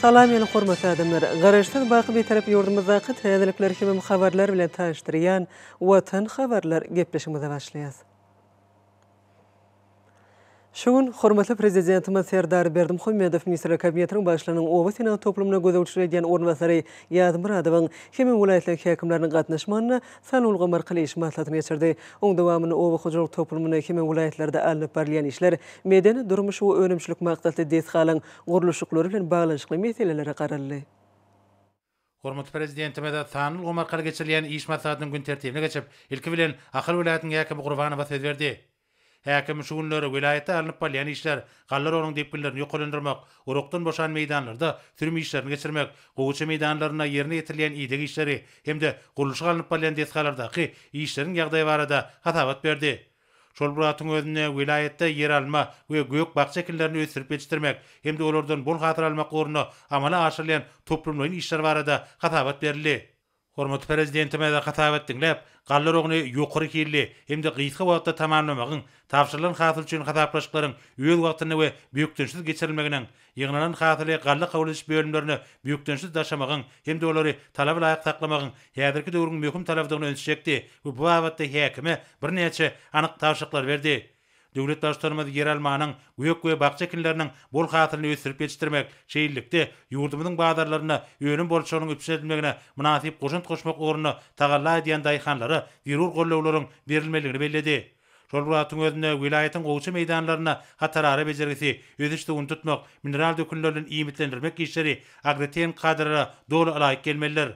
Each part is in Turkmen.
Salam ýene hormatly adamlar! Garaşsyz baky Bitarap ýurdumyzdaky täzelikler hemem habarlar bilen tanyşdyrýan Watan habarlar gepleşigimize başlaýas. Şu gün hormatly Prezidentimiz Serdar Berdimuhamedow Ministrler Kabinetiniň Başlygynyň oba senat toplumyna gözegçilik edýän orunbasary Ýazmyradowyň hemem welaýatlaryň häkimleriniň gatnaşmagynda sany ulgamy arkaly iş maslahatyny geçirdi. Oň dowamynda oba hojalyk toplumynda hemem welaýatlarda alnyp barylýan işler, medeni-durmuş we önümçilik maksatly desgalaryň gurluşyklary bilen baglanyşykly meselelere garaldy. Hormatly Prezidentimiz sanly ulgam arkaly geçirilýän iş maslahatynyň gün tertibine geçip, ilki bilen, Ahal welaýatynyň häkimi Gurbanowa söz berdi. Häkim şu günler welaýatda alnyp barylýan işler, galla rogunyň depginlerini ýokarlandyrmak, urugdan boşan meýdanlarda sürüm işlerini geçirmek, gowaça meýdanlarynda ýerine ýetirilýän ideg işleri hem-de gurluşyk alnyp barylýan desgalardaky işleriň ýagdaýy barada hasabat berdi. Şol bir wagtyň özünde welaýatda ýeralma we gök-bakja ekinlerini ösdürip ýetişdirmek hem-de olardan bol hasyl almak ugrunda amala aşyrylýan toplumlaýyn işler barada hasabat berildi. Hormatly Prezidentimiz hasabat diňläp, galla roguny ýokary hilli hem-de gysga wagtda tamamlamagyň, tabşyrylan hasyl üçin hasaplaşyklaryň öz wagtynda we bökdençsiz geçirilmeginiň, Ýygnanan hasyly galla kabul ediş bölümlerine bökdençsiz daşamagyň hem-de olary talaba laýyk saklamagyň häzirki döwrüň möhüm talabydygyny öňe çekdi we bu babatda häkime birnäçe anyk tabşyryklary berdi. Döwlet Baştutanymyz ýeralmanyň, gök we bakja ekinleriniň bol hasylyny ösdürip ýetişdirmek, şeýlelikde, ýurdumyzyň bazarlarynda önüm bolçulygynyň üpjün edilmegine mynasyp goşant goşmak ugrunda tagalla edýän daýhanlara zerur gollawlaryň berilmelidigini belledi. Şol wagtyň özünde welaýatyň gowşa meýdanlarynda hatarara bejergisi, ösüş-suwuny tutmak, mineral dökünler bilen iýmitlendirmek işleri agrotehniki kadalara doly ylaýyk gelmelidir.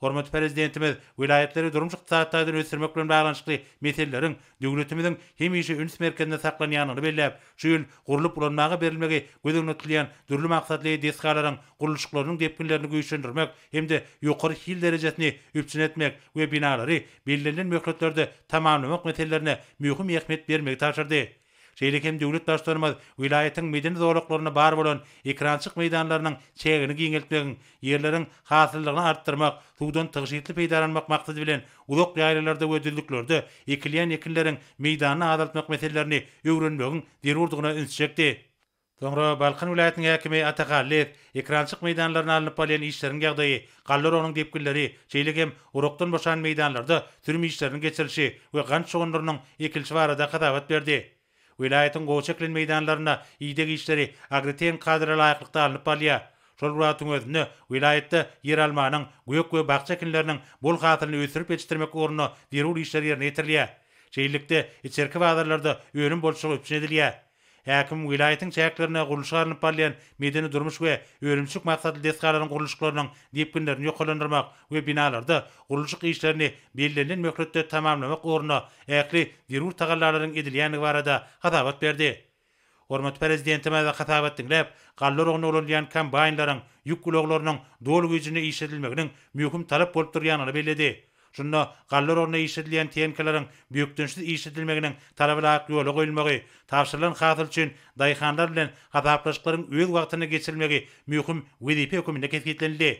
Hormatly Prezidentimiz welaýatlary durmuş-ykdysady taýdan ösdürmek bilen baglanyşykly meseleleriň döwletimiziň hemişe üns merkezinde saklanýandygyny belläp, şu ýyl gurlup ulanmaga berilmegi göz öňüne tutulýan dürli maksatly desgalaryň gurluşyklarynyň depginlerini güýçlendirmek hem-de ýokary hil derejesini üpjün etmek we binalary bellenilen möhletlerde tamamlamak meselelerine möhüm ähmiýet bermegi tabşyrdy. Şeýle hem döwlet Baştutanymyz welaýatyň medeni zolaklarynda bar bolan ekrançyk meýdanlarynyň çägini giňeltmegiň, ýerleriň hasyllygyny artdyrmak, suwdan tygşytly peýdalanmak maksady bilen uzak ýaýlalarda we düzlüklerde ekilýän ekinleriň meýdanyny azaltmak meselelerini öwrenmegiň zerurdygyna ünsi çekdi. Soňra Balkan welaýatynyň häkimi Atak Allyýew ekrançyk meýdanlarynda alnyp barylýan işleriň ýagdaýy, galla urugynyň depginleri, şeýle hem urukdan boşan meýdanlarda sürüm işleriniň geçirilişi we gant şugundyrynyň ekilişi barada hasabat berdi. Welaýatyň gowaça ekilen meýdanlarynda ideg işleri agrotehnik kadra laýyklykda alnyp barylýar. Şol bir wagtyň özünde welaýatda ýeralmanyň, gök we bakja ekinleriniň bol hasylyny ösdürip ýetişdirmek ugrunda zerur işler ýerine ýetirilýär. Şeýlelikde, içerki bazarlarda önüm bolçulygy üpjün edilýär. Häkim welaýatyň çäklerinde gurluşyk alnyp barylýan medeni-durmuş we önümçilik maksatly desgalaryň gurluşyklarynyň depginlerini ýokarlandyrmak we binalarda gurluşyk işlerini bellenilen möhletde tamamlamak ugrunda ähli zerur tagallalaryň edilýändigi barada hasabat berdi. Hormatly Prezidentimiz hasabat diňläp, galla oragyna ulanylýan kombaýnlaryň, ýük ulaglarynyň doly güýjünde işledilmeginiň möhüm talap bolup durýandygyny belledi. Şunda gallar ornuna işledilýän tenkaleriň bökdençsiz işledilmeginiň talaba laýyk ýola goýulmagy, tabşyrylan hasyl üçin daýhanlar bilen hasaplaşyklaryň öz wagtynda geçirilmegi möhüm wezipe höküminde kesgitlenildi.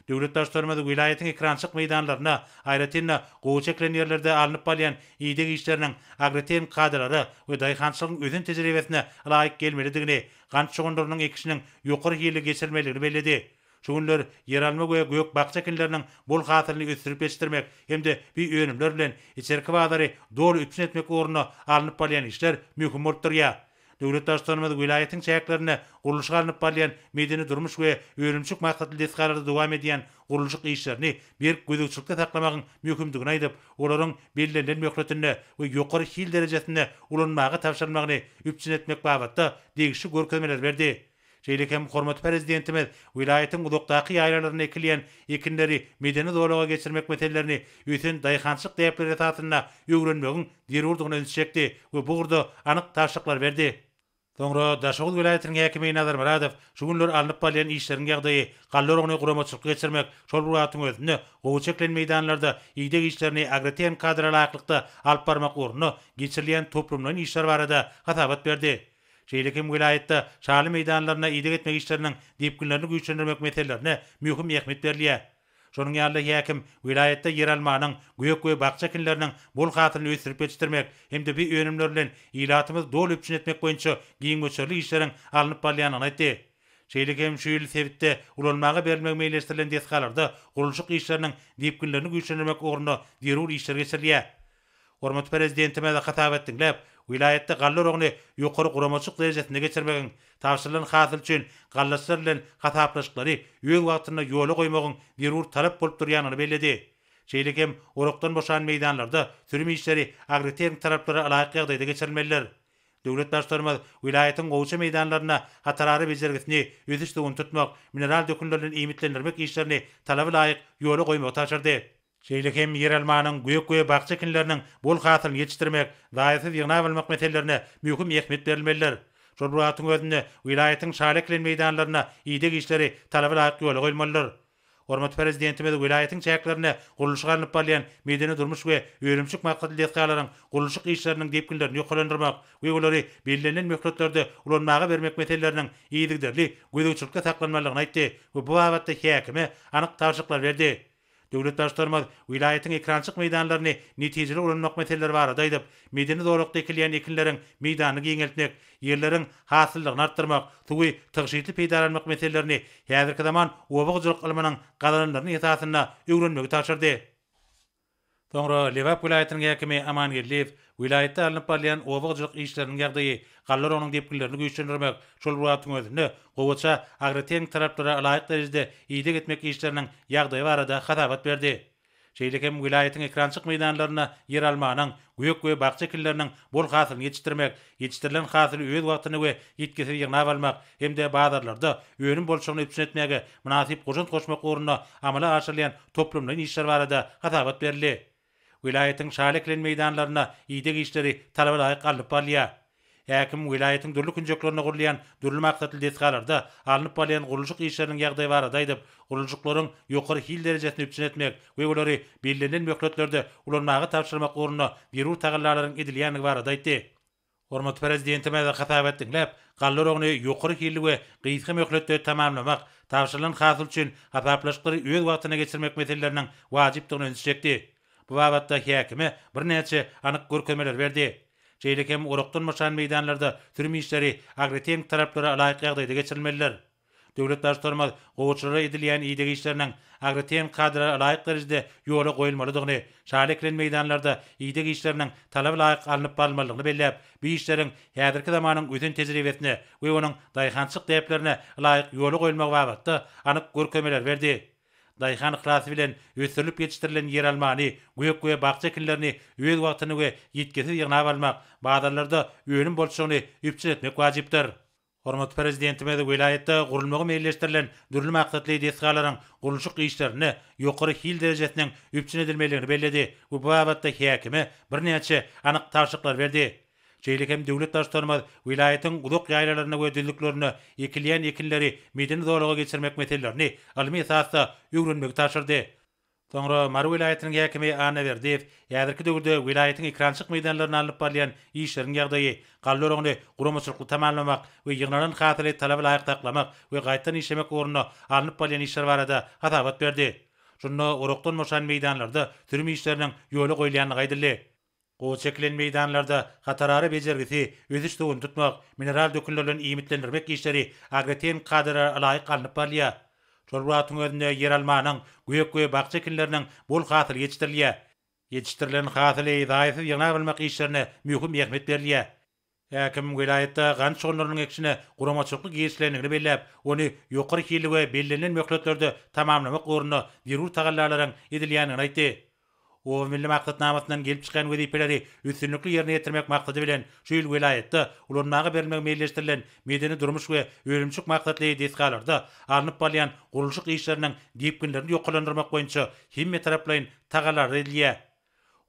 Döwlet Baştutanymyz welaýatyň ekrançyk meýdanlarynda, aýratyn-da, gowaça ekilen ýerlerde alnyp barylýan ideg işleriniň agrotehniki kadalara we daýhançylygyň ösen tejribesine laýyk gelmelidigini, gant şugundyrynyň ekişiniň ýokary hilli geçirilmelidigini belledi. Şu günler ýeralma we gök-bakja ekinleriniň bol hasylyny ösdürip ýetişdirmek hem-de bi önümler bilen içerki bazary doly üpjün etmek ugrunda alnyp barylýan işler möhüm bolup durýar. Döwlet Baştutanymyz welaýatyň çäklerinde gurluşygy alnyp barylýan medeni-durmuş we önümçilik maksatly desgalarda dowam edýän gurluşyk işlerini berk gözegçilikde saklamagyň möhümdigini aýdyp, olaryň bellenilen möhletinde we ýokary hil derejesinde ulanmaga tabşyrylmagyny üpjün etmek babatda degişli görkezmeleri berdi. Şeýle hem hormatly Prezidentimiz welaýatyň uzakdaky ýaýlalarynda ekilýän ekinleri medeni zolaga geçirmek meselelerini ösen daýhançylyk däpleri esasynda öwrenmegiň zerurdygyna ünsi çekdi we bu ugurda anyk tabşyryklary berdi. Soňra Daşoguz welaýatynyň häkimi Nazar Myradow şu günler alnyp barylýan işleriň ýagdaýy, galla oragyny guramaçylykly geçirmek, şol bir wagtyň özünde gowy çekilen meýdanlarda ideg işlerini agrotehnikadara laýyklykda alyp barmak ugrunda geçirilýän toplumlaýyn işler barada hasabat berdi. Şeýle hem welaýatda şaly meýdanlaryna ideg etmek işleriniň depginlerini güýçlendirmek meselelerine möhüm ähmiýet berilýär. Şonuň ýaly-da häkim welaýatda ýeralmanyň, gök we bakja ekinleriniň bol hasylyny ösdürip ýetişdirmek hem-de bu önümler bilen ilatymyzy doly üpjün etmek boýunça giň möçberli işleriň alnyp barylýandygyny aýtdy. Şeýle hem şu ýyl sebitde ulanmaga berilmegi meýilleşdirilen desgalarda gurluşyk işleriniň depginlerini güýçlendirmek ugrunda zerur işler geçirilýär. Hormatly Prezidentimiz hasap etdiňläp, welaýatda galla oragyny ýokary guramaçylyk derejesinde geçirmegiň, tabşyrylan hasyl üçin gallaçylar bilen hasaplaşyklary öz wagtynda ýola goýmagyň zerur talap bolup durýanyny belledi. Şeýle hem orakdan boşan meýdanlarda sürüm işleri agrotehnik talaplara laýyk ýagdaýda geçirilmelidir. Döwlet Baştutanymyz welaýatyň gowaça meýdanlarynda hatarara bejergisini ösüş suwuny tutmak, mineral dökünler bilen iýmitlendirmek işlerini talaba laýyk ýola goýmagy tabşyrdy. Şeýle hem ýeralmanyň, gök we bakja ekinleriniň bol hasylyny ýetişdirmek, zaýasyz ýygnap almak meselelerine möhüm ähmiýet berilmelidir. Şol bir wagtyň özünde welaýatyň şaly ekilen meýdanlarynda ideg işleri talaba laýyk ýola goýulmalydyr. Hormatly Prezidentimiz welaýatyň çäklerinde gurluşyk alnyp barylýan medeni-durmuş we önümçilik maksatly desgalaryň gurluşyk işleriniň depginlerini ýokarlandyrmak we olary bellenilen möhletlerde ulanmaga bermek meseleleriniň yzygiderli gözegçilikde saklanmalydygyny aýtdy we bu babatda häkime anyk tabşyryklar berdi. Döwlet Baştutanymyz welaýatyň ekrançyk meýdanlaryny netijeli ulanmak meseleleri barada aýdyp, medeni zolakda ekilýän ekinleriň meýdanyny giňeltmek, ýerleriň hasyllygyny artdyrmak, suwy tygşytly peýdalanmak meselelerini häzirki zaman oba hojalyk ylmynyň gazananlaryny esasynda öwrenmegi tabşyrdy. Soňra Lebap welaýatynyň häkimi Aman Geldiýew welaýatda alnyp barylýan oba hojalyk işleriniň ýagdaýy, gallarygynyň depginlerini güýçlendirmek, şol bir wagtyň özünde gowaça agrotehniki talaplara ylaýyk derejede ideg etmek işleriniň ýagdaýy barada hasabat berdi. Şeýle hem welaýatyň ekrançyk meýdanlarynda ýeralmanyň, gök we bakja ekinleriniň bol hasylyny ýetişdirmek, Ýetişdirilen hasyly öz wagtynda we ýitgisiz ýygnap almak hem-de bazarlarda önüm bolçulygyny üpjün etmäge mynasyp goşant goşmak ugrunda amala aşyrylýan toplumlaýyn işler barada hasabat berildi. Welaýatyň şaly ekilen meýdanlarynda ideg işleri talabalaýyk alnyp barylýar. Häkim welaýatyň dürli künjeklerinde gurulýan dürli maksatly desgalarda alnyp barylýan gurluşyk işleriniň ýagdaýy barada aýdyp, Gurluşyklaryň ýokary hil derejesini üpjün etmek we olary bellenilen möhletlerde ulanmaga tabşyrmak ugrunda zerur tagallalaryň edilýändigi barada aýtdy. Hormatly Prezidentimiz hasabat diňläp, galla oragyny ýokary hilli we gysga möhletde tamamlamak, tabşyrylan hasyl üçin hasaplaşyklary öz wagtynda geçirmek meseleleriniň wajypdygyna ünsi çekdi. Bu babatda häkime birnäçe anyk görkezmeleri berdi. Şeýle hem orakdan boşan meýdanlarda sürüm işleri agrotehniki taraplary laýyk ýagdaýda geçirilmelidir. Döwlet Baştutanymyz gowuçylara edilýän ideg işleriniň agrotehniki kadalara laýyk derejede ýola goýulmalydygyny, şaly ekilen meýdanlarda ideg işleriniň talaba laýyk alnyp barylmalydygyny belläp, bu işleriň häzirki zamanyň ösen tejribesine we onuň daýhançylyk däplerine laýyk ýola goýulmagy babatda anyk görkezmeler berdi. Daýhan yhlasy bilen ösdürilip ýetişdirilen ýeralmany, gök we bakja ekinlerini öz wagtynda we ýitgisiz ýygnap almak, bazarlarda önüm bolçulygyny üpjün etmek wajypdyr. Hormatly Prezidentimiz welaýatda gurulmagy meýilleşdirilen dürli maksatly desgalaryň gurluşyk işlerinde ýokary hil derejesiniň üpjün edilmelidigini belledi we bu babatda häkime birnäçe anyk tabşyryklary berdi. Şeýle hem döwlet Baştutanymyz welaýatyň uzak ýaýlalarynda we düzlüklerinde ekilýän ekinleri medeni zolaga geçirmek meselelerini ylmy esasda öwrenmegi tabşyrdy. Soňra Mary welaýatynyň häkimi Anna Berdiýew häzirki döwürde welaýatyň ekrançylyk meýdanlarynda alnyp barylýan işleriň ýagdaýy, galla oragyny guramaçylykly tamamlamak we ýygnalan hasyly talaba laýyk saklamak we gaýtadan işlemek ugrunda alnyp barylýan işler barada hasabat berdi. Şunda orakdan boşan meýdanlarda sürüm işleriniň ýola goýulýandygy aýdyldy. Gowy çekilen meýdanlarda hatarara bejergisi, ösüş suwuny tutmak, mineral dökünler bilen iýmitlendirmek işleri agrotehniki kadalara laýyk alnyp barylýar. Şol bir wagtyň özünde ýeralmanyň, gök we bakja ekinleriniň bol hasyly ýetişdirilýär. Ýetişdirilen hasyly zaýasyz ýygnap almak işlerine möhüm ähmiýet berilýär. Häkim welaýatda gant şugunlarynyň ekişine guramaçylykly girişilendigini belläp, ony ýokary hilli we bellenilen möhletlerde tamamlamak ugrunda zerur tagallalaryň edilýändigini aýtdy. Oba milli maksatnamasyndan gelip çykýan wezipeleri üstünlikli ýerine ýetirmek maksady bilen, şu ýyl welaýatda ulanmaga berilmegi meýilleşdirilen medeni-durmuş we önümçilik maksatly desgalarda alnyp barylýan gurluşyk işleriniň depginlerini ýokarlandyrmak boýunça hemmetaraplaýyn tagallalar edilýär.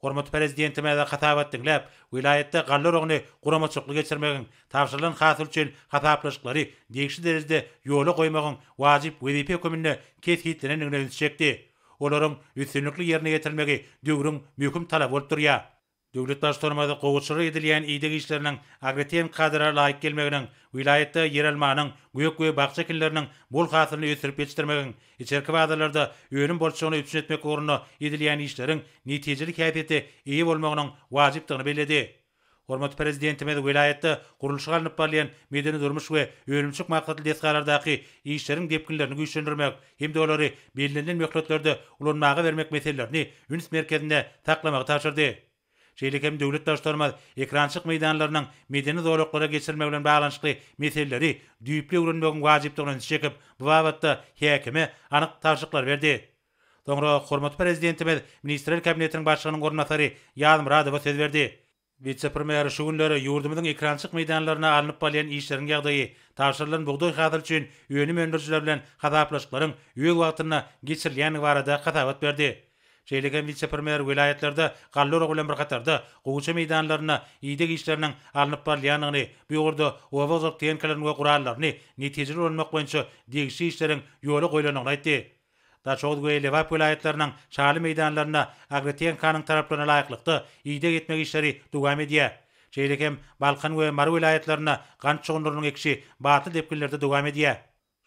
Hormatly Prezidentimize hasabat diňläp, welaýatda galla oragyny guramaçylykly geçirmegiň, tabşyrylan hasyl üçin hasaplaşyklary degişli derejede ýola goýmagyň wajyp wezipe höküminde kesgitlenendigine ünsi çekdi. Olaryň üstünlikli ýerine ýetirilmegi döwrüň möhüm talaby bolup durýar. Döwlet Baştutanymyz gowuçylyk edilýän ideg işleriniň agrotehniki kadara laýyk gelmeginiň, welaýatda ýeralmanyň, gök we bakja ekinleriniň bol hasylyny ösdürip ýetişdirmegiň, Içerki bazarlarda önüm bolçulygyny üpjün etmek ugrunda edilýän işleriň netijeli häsiýete eýe bolmagynyň wajypdygyny belledi. Hormatly Prezidentimiz welaýatda gurluşygy alnyp barylýan medeni-durmuş we önümçilik maksatly desgalardaky işleriň depginlerini güýçlendirmek hem-de olary bellenilen möhletlerde ulanmaga bermek meselelerini üns merkezinde saklamagy tabşyrdy. şeýle hem döwlet daş-tormaz ekrançyk meýdanlarynyň medeni zolaklara geçirilmegi bilen baglanyşykly meseleleri düýpli öwrenmegiň wajypdygyna ünsi çekip, bu babatda häkime anyk tabşyklary berdi. Soňra hormatly Prezidentimiz Ministrler Kabinetiniň Başlygynyň orunbasary Ýazmyradowa söz berdi. Wise-premýer şu günler ýurdumyzyň ekrançyk meýdanlarynda alnyp balýan işleriň ýagdaýy, tabşyrylan bugdaý hasyly üçin önüm öndürijiler bilen hasaplaşyklaryň öz wagtynda geçirilýändigi barada hasabat berdi. Şeýle hem wise-premýer welaýatlarda galla oragy bilen bir hatarda, gowaça meýdanlarynda ideg işleriniň alnyp barylýandygyny, bu ugurda oba-ozalk tehnikalaryny we gurallaryny netijeli ulanmak boýunça degişli işleriň ýola goýlandygyny aýtdy. Daşoguz we Lebap welaýatlarynyň şaly meýdanlarynda agrotehnikanyň talaplaryna laýyklykda ideg etmek işleri dowam edýär. Şeýle hem Balkan we Mary welaýatlarynda gant şugundyrynyň ekişi batly depginlerde dowam edýär.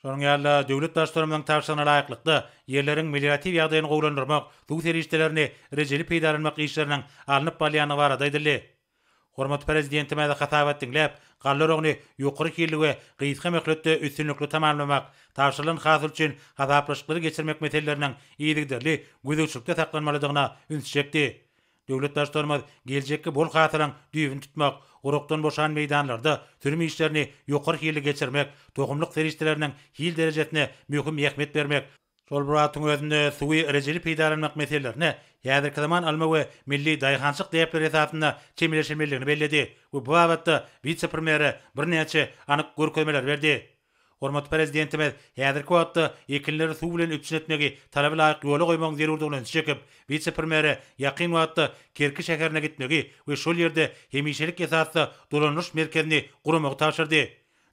Şonuň ýaly-da, döwlet Baştutanymyzyň tabşyrygyna laýyklykda, ýerleriň melioratiw ýagdaýyny gowulandyrmak, suw serişdelerini rejeli peýdalanmak işleriniň alnyp barylýandygy barada aýdyldy. Hormatly Prezidentimiz hasabat diňläp, galla oragyny ýokary hilli we gysga möhletde üstünlikli tamamlamak, tabşyrylan hasyl üçin hasaplaşyklary geçirmek meseleleriniň yzygiderli gözegçilikde saklanmalydygyna ünsi çekdi. Döwlet Baştutanymyz geljekki bol hasylyň düýbüni tutmak, gurakdan boşan meýdanlarda sürüm işlerini ýokary hilli geçirmek, tohumlyk serişdeleriniň hil derejesine möhüm ähmiýet bermek, şol bir wagtyň özünde suwy rejeli peýdalanmak meselelerine häzirki zaman alma we milli daýhançylyk däpleri esasynda çemeleşilmelidigini belledi we bu babatda wise-premýere birnäçe anyk görkezmeleri berdi. Hormatly Prezidentimiz häzirki wagtda ekinleri suw bilen üpjün etmegi talaba laýyk ýola goýmagyň zerurdygyna ünsi çekip, wise-premýere ýakyn wagtda Kerki şäherine gitmegi we şol ýerde hemişelik esasda dolandyryş merkezini guramagy tabşyrdy.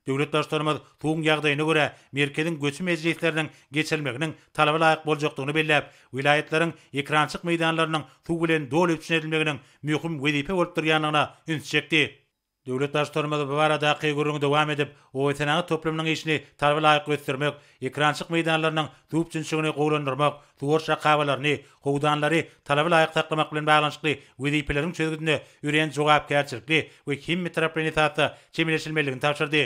Döwlet Baştutanymyz suwuň ýagdaýyna görä merkeziň göçi mejlisleriniň geçirilmeginiň talaba laýyk boljakdygyny belläp, welaýatlaryň ekrançyk meýdanlarynyň suw bilen doly üpjün edilmeginiň möhüm wezipe bolup durýandygyna ünsi çekdi. Döwlet Baştutanymyz bu baradaky gürrüňi dowam edip, obasenagat toplumynyň işini talaba laýyk ösdürmek, ekrançyk meýdanlarynyň düwpjünçigini gowulandyrmak, suwaryş akabalaryny, howdanlary talaba laýyk saklamak bilen baglanyşykly wezipeleriň çözgüdine örän jogapkärçilikli we hemmetaraplaýyn esasda çemeleşilmelidigini tabşyrdy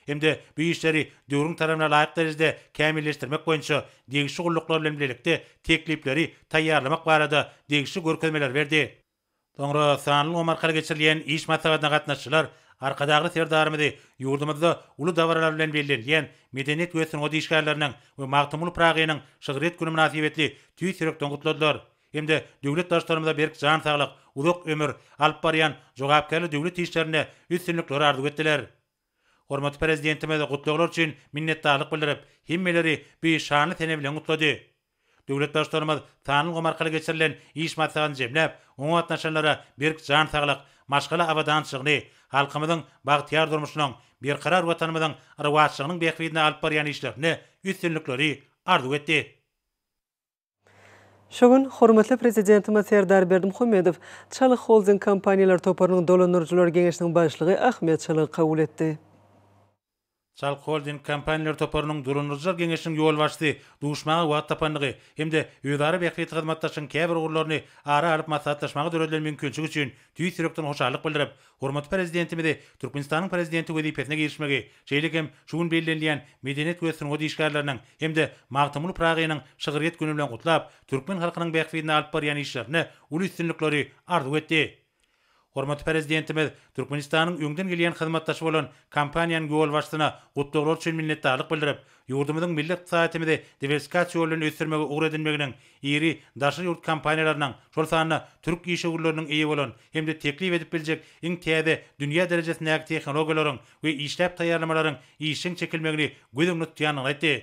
hem-de bu işleri döwrüň talabyna laýyk derejede kämilleşdirmek boýunça degişli gulluklar bilen bilelikde teklipleri taýýarlamak barada degişli görkezmeleri berdi. Soňra sanly ulgam arkaly geçirilýän iş maslahatyna gatnaşyjylar Arkadagly Serdarymyzy ýurdumyzda uly dabaralar bilen bellenilýän Medeniýet we sungat işgärleriniň we Magtymguly Pyragynyň şygryýet güni mynasybetli tüýs ýürekden gutladylar hem-de döwlet Baştutanymyza berk jan saglyk, uzak ömür, alyp barýan jogapkärli döwlet işlerinde üstünlikler arzuw etdiler. Hormatly Prezidentimiz gutlaglar üçin minnetdarlyk bildirip, hemmeleri bu şanly sene bilen gutlady. Döwlet Baştutanymyz sanly ulgam arkaly geçirilen iş maslahatyny jemläp, oňa gatnaşanlara berk jan saglyk, maşgala abadançylygyny, halkymyzyň bagtyýar durmuşynyň, Berkarar Watanymyzyň rowaçlygynyň bähbidine alyp barýan işlerinde üstünlikleri arzuw etdi. Şu gün hormatly Prezidentimiz Serdar Berdimuhamedow Çalyk Holding kompaniýalar toparynyň dolandyryjylar geňeşiniň başlygy Ahmet Çalygy kabul etdi. Çalyk Holding kompaniýalar toparynyň dolandyryjylar geňeşiniň ýolbaşçysy duşmaga wagt tapandygy hem-de özara bähbitli hyzmatdaşlygyň käbir ugurlaryny ara alyp maslahatlaşmaga döredilen mümkinçilik üçin tüýs ýürekden hoşallyk bildirip, Hormatly Prezidentimizi Türkmenistanyň Prezidenti wezipesine girişmegi, şeýle hem şu gün bellenilýän Medeniýet we sungat işgärleriniň hem-de Magtymguly Pyragynyň şygryýet güni bilen gutlap, türkmen halkynyň bähbidine alyp barýan işlerinde uly üstünlikleri arzuw etdi. Hormatly Prezidentimiz Türkmenistanyň öňden gelýän hyzmatdaşy bolan kompaniýanyň ýolbaşçysyna gutlaglar üçin minnetdarlyk bildirip, Ýurdumyzyň milli ykdysadýetimizi diwersifikasiýa ýoly bilen ösdürmegi ugur edinmeginiň, iri daşary ýurt kompaniýalarynyň, şol sanda türk işewürleriniň eýe bolan hem-de teklip edip biljek iň täze dünýä derejesindäki tehnologiýalaryň we işläp taýýarlamalaryň işjeň çekilmegini göz öňünde tutýandygyny aýtdy.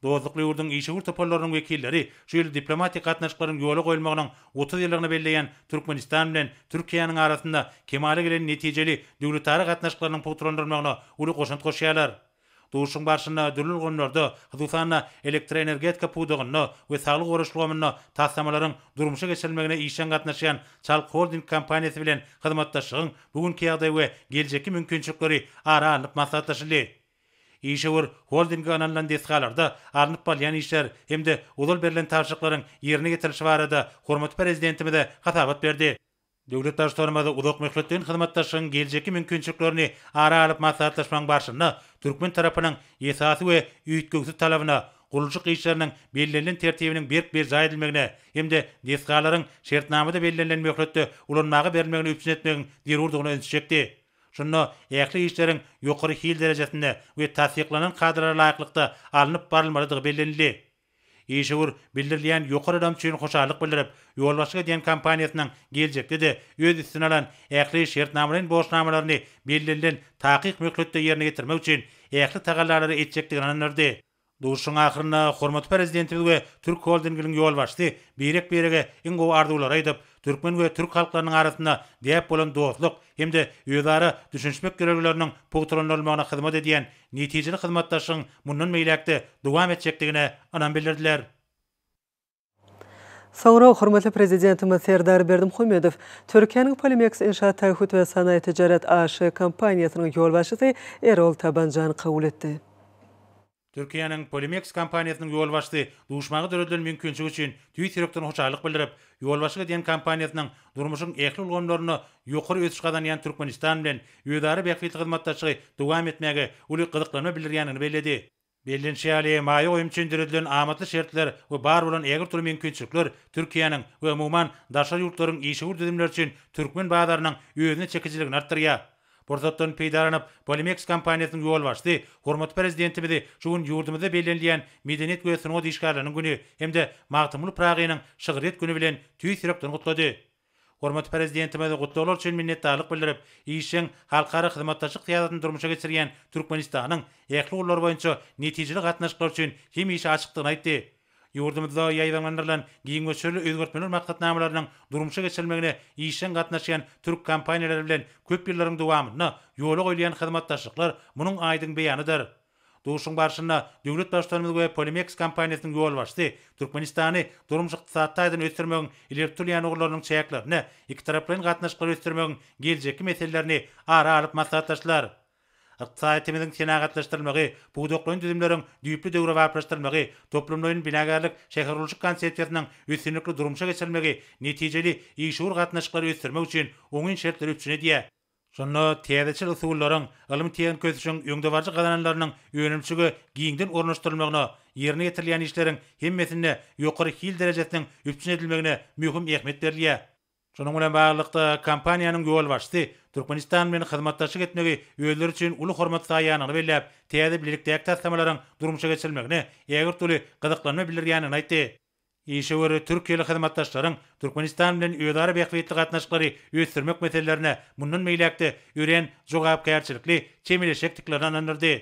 Dostlukly ýurduň işewür toparlarynyň wekilleri şu ýyl diplomatik gatnaşyklaryň ýola goýulmagynyň otuz ýyllygyny belleýän Türkmenistan bilen Türkiýäniň arasynda kemala gelen netijeli döwletara gatnaşyklarynyň pugtalandyrylmagyna uly goşant goşýarlar. Duşuşygyň barşynda dürli ulgamlarda, hususan-da, elektroenergetika pudagynda we saglygy goraýyş ulgamynda taslamalaryň durmuşa geçirilmegine işjeň gatnaşýan Çalk Holding kompaniýasy bilen hyzmatdaşlygyň bu günki ýagdaýy we geljekki mümkinçilikleri ara alnyp maslahatlaşyldy. Işewür holdinge ynanylan desgalarda alnyp barylýan işler hem-de ozal berlen tabşyryklaryň ýerine ýetirilişi barada hormatly Prezidentimize hasabat berdi. Döwlet Baştutanymyz uzak möhletleýin hyzmatdaşlygyň geljekki mümkinçiliklerini ara alyp maslahatlaşmagyň barşynda türkmen tarapynyň esasy we üýtgewsiz talabyna, gurluşyk işleriniň bellenilen tertibiniň berk berjaý edilmegine hem-de desgalaryň şertnamada bellenilen möhletde ulanmaga berilmegine üpjün etmegiň zerurdygyna ünsi çekdi. Şunda ähli işleriň ýokary hil derejesinde we tassyklanan kadalara laýyklykda alnyp barylmalydygy bellenildi. Işewür, bildirilýän ýokary ynam üçin hoşallyk bildirip, ýolbaşçylyk edýän kompaniýasynyň geljekde-de öz üstüne alan ähli şertnamalaýyn borçnamalaryny bellenilen takyk möhletde ýerine ýetirmek üçin ähli tagallalary etjekdigini ynandyrdy. Duşuşygyň ahyrynda hormatly Prezidentimiz we Türk Holdinginiň ýolbaşçysy birek-birege iň gowy arzuwlary aýdyp, türkmen we türk halklarynyň arasynda däp bolan dostluk, hem-de özara düşünişmek ýörelgeleriniň pugtalandyrylmagyna hyzmat edýän netijeli hyzmatdaşlygyň mundan beýläk-de dowam etjekdigine ynam bildirdiler. Soňra hormatly Prezidentimiz Serdar Berdimuhamedow Türkiýäniň Polimex Inşaat Taahhüt we Sanaýy Tijaret AŞ kompaniýasynyň ýolbaşçysy Erol Tabanjany kabul etdi. Türkiýäniň Polimex kompaniýasynyň ýolbaşçysy duşmaga döredilen mümkinçilik üçin tüýs ýürekden hoşallyk bildirip, ýolbaşçylyk edýän kompaniýasynyň durmuşyň ähli ulgamlarynda ýokary ösüş gazanýan Türkmenistan bilen özara bähbitli hyzmatdaşlygy dowam etmäge uly gyzyklanma bildirýändigini belledi. Bellenişi ýaly, maýa goýum üçin döredilen amatly şertler we bar bolan ägirtürli mümkinçilikler Türkiýäniň we umuman daşary ýurtlaryň işewür düzümleri üçin türkmen bazarynyň özüne çekijiligini artdyrýar. Pursatdan peýdalanyp, Polimeks kompaniýasynyň ýolbaşçysy hormatly Prezidentimizi şu gün ýurdumyzda bellenilýän Medeniýet we sungat işgärleriniň güni hem-de Magtymguly Pyragynyň şygryýet güni bilen tüýs ýürekden gutlady. Hormatly Prezidentimize gutlaglar üçin minnetdarlyk bildirip, işjeň halkara hyzmatdaşlyk syýasatyny durmuşa geçirýän Türkmenistanyň ähli ugurlar boýunça netijeli gatnaşyklar üçin hemişe açykdygyny aýtdy. Ýurdumyzda ýaýbaňlandyrylan giň möçberli özgertmeler maksatnamalarynyň durmuşa geçirilmegine işjeň gatnaşýan türk kompaniýalary bilen köp ýyllaryň dowamynda ýola goýulýan hyzmatdaşlyklar munuň aýdyň beýanydyr. Duşuň barşynda döwlet Baştutanymyz we Polimeks kompaniýasynyň ýolbaşçysy Türkmenistany durmuş-ykdysady taýdan ösdürmegiň ileri tutulýan ugurlarynyň çäklerinde ikitaraplaýyn gatnaşyklary ösdürmegiň geljekki meselelerini ara alyp maslahatlaşdylar. Ykdysadyýetimiziň senagatlaşdyrylmagy, pudaklaýyn düzümleriň düýpli döwrebaplaşdyrylmagy, toplumlaýyn binagärlik, şähergurluşyk konsepsiýasynyň üstünlikli durmuşa geçirilmegi netijeli, işewür gatnaşyklary ösdürmek üçin oňyn şertleri üpjün edýär. Şunda täzeçil usullaryň, ylmy-tehniki ösüşiň öňdebaryjy gazananlarynyň önümçige giňden ornaşdyrylmagyna, ýerine ýetirilýän işleriň hemmesinde ýokary hil derejesiniň üpjün edilmegine möhüm ähmiýet berilýär. Şunuň bilen baglylykda, kompaniýanyň ýolbaşçysy Türkmenistan bilen hyzmatdaşlyk etmegi özleri üçin uly hormat saýýanyny belläp, täze bilelikdäki taslamalaryň durmuşa geçirilmegine ägirt uly gyzyklanma bildirýändigini aýtdy. Işewür türkiýeli hyzmatdaşlaryň Türkmenistan bilen özara bähbitli gatnaşyklary ösdürmek meselelerine mundan beýläk-de örän jogapkärçilikli çemeleşjekdiklerini ynandyrdy.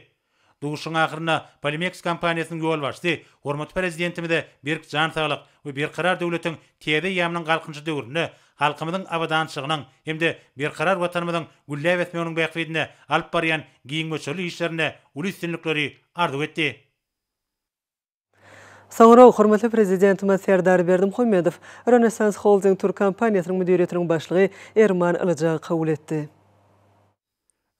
Duşuşygyň ahyrynda Polimeks kompaniýasynyň ýolbaşçysy hormatly Prezidentimize berk jan saglyk we Berkarar döwletiň täze eýýamynyň Galkynyşy döwründe halkymyzyň abadançylygynyň hem-de berkarar Watanymyzyň gülläp ösmeginiň bähbidine alyp barýan giň möçberli işlerinde uly üstünlikleri arzuw etdi. Soňra hormatly Prezidentimiz Serdar Berdimuhamedow Rönesans Holding Türk kompaniýasynyň müdiriýetiniň başlygy Erman Ylyjagy kabul etdi.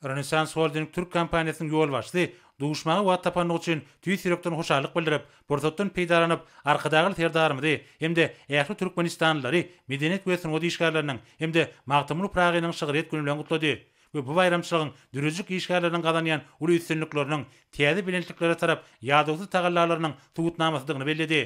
Rönesans Holding Türk kompaniýasynyň ýolbaşçysy duşmaga wagt tapandygy üçin tüýs ýürekden hoşallyk bildirip, pursatdan peýdalanyp, Arkadagly Serdarymyzy hem-de ähli türkmenistanlylary medeniýet we sungat işgärleriniň hem-de Magtymguly Pyragynyň şygryýet güni bilen gutlady. we bu baýramçylygyň dürüjik işgärleriniň gazanýan uly üstünlikleriniň, täze belentliklere tarap ýadawsyz tagallalarynyň subutnamasydygyny belledi.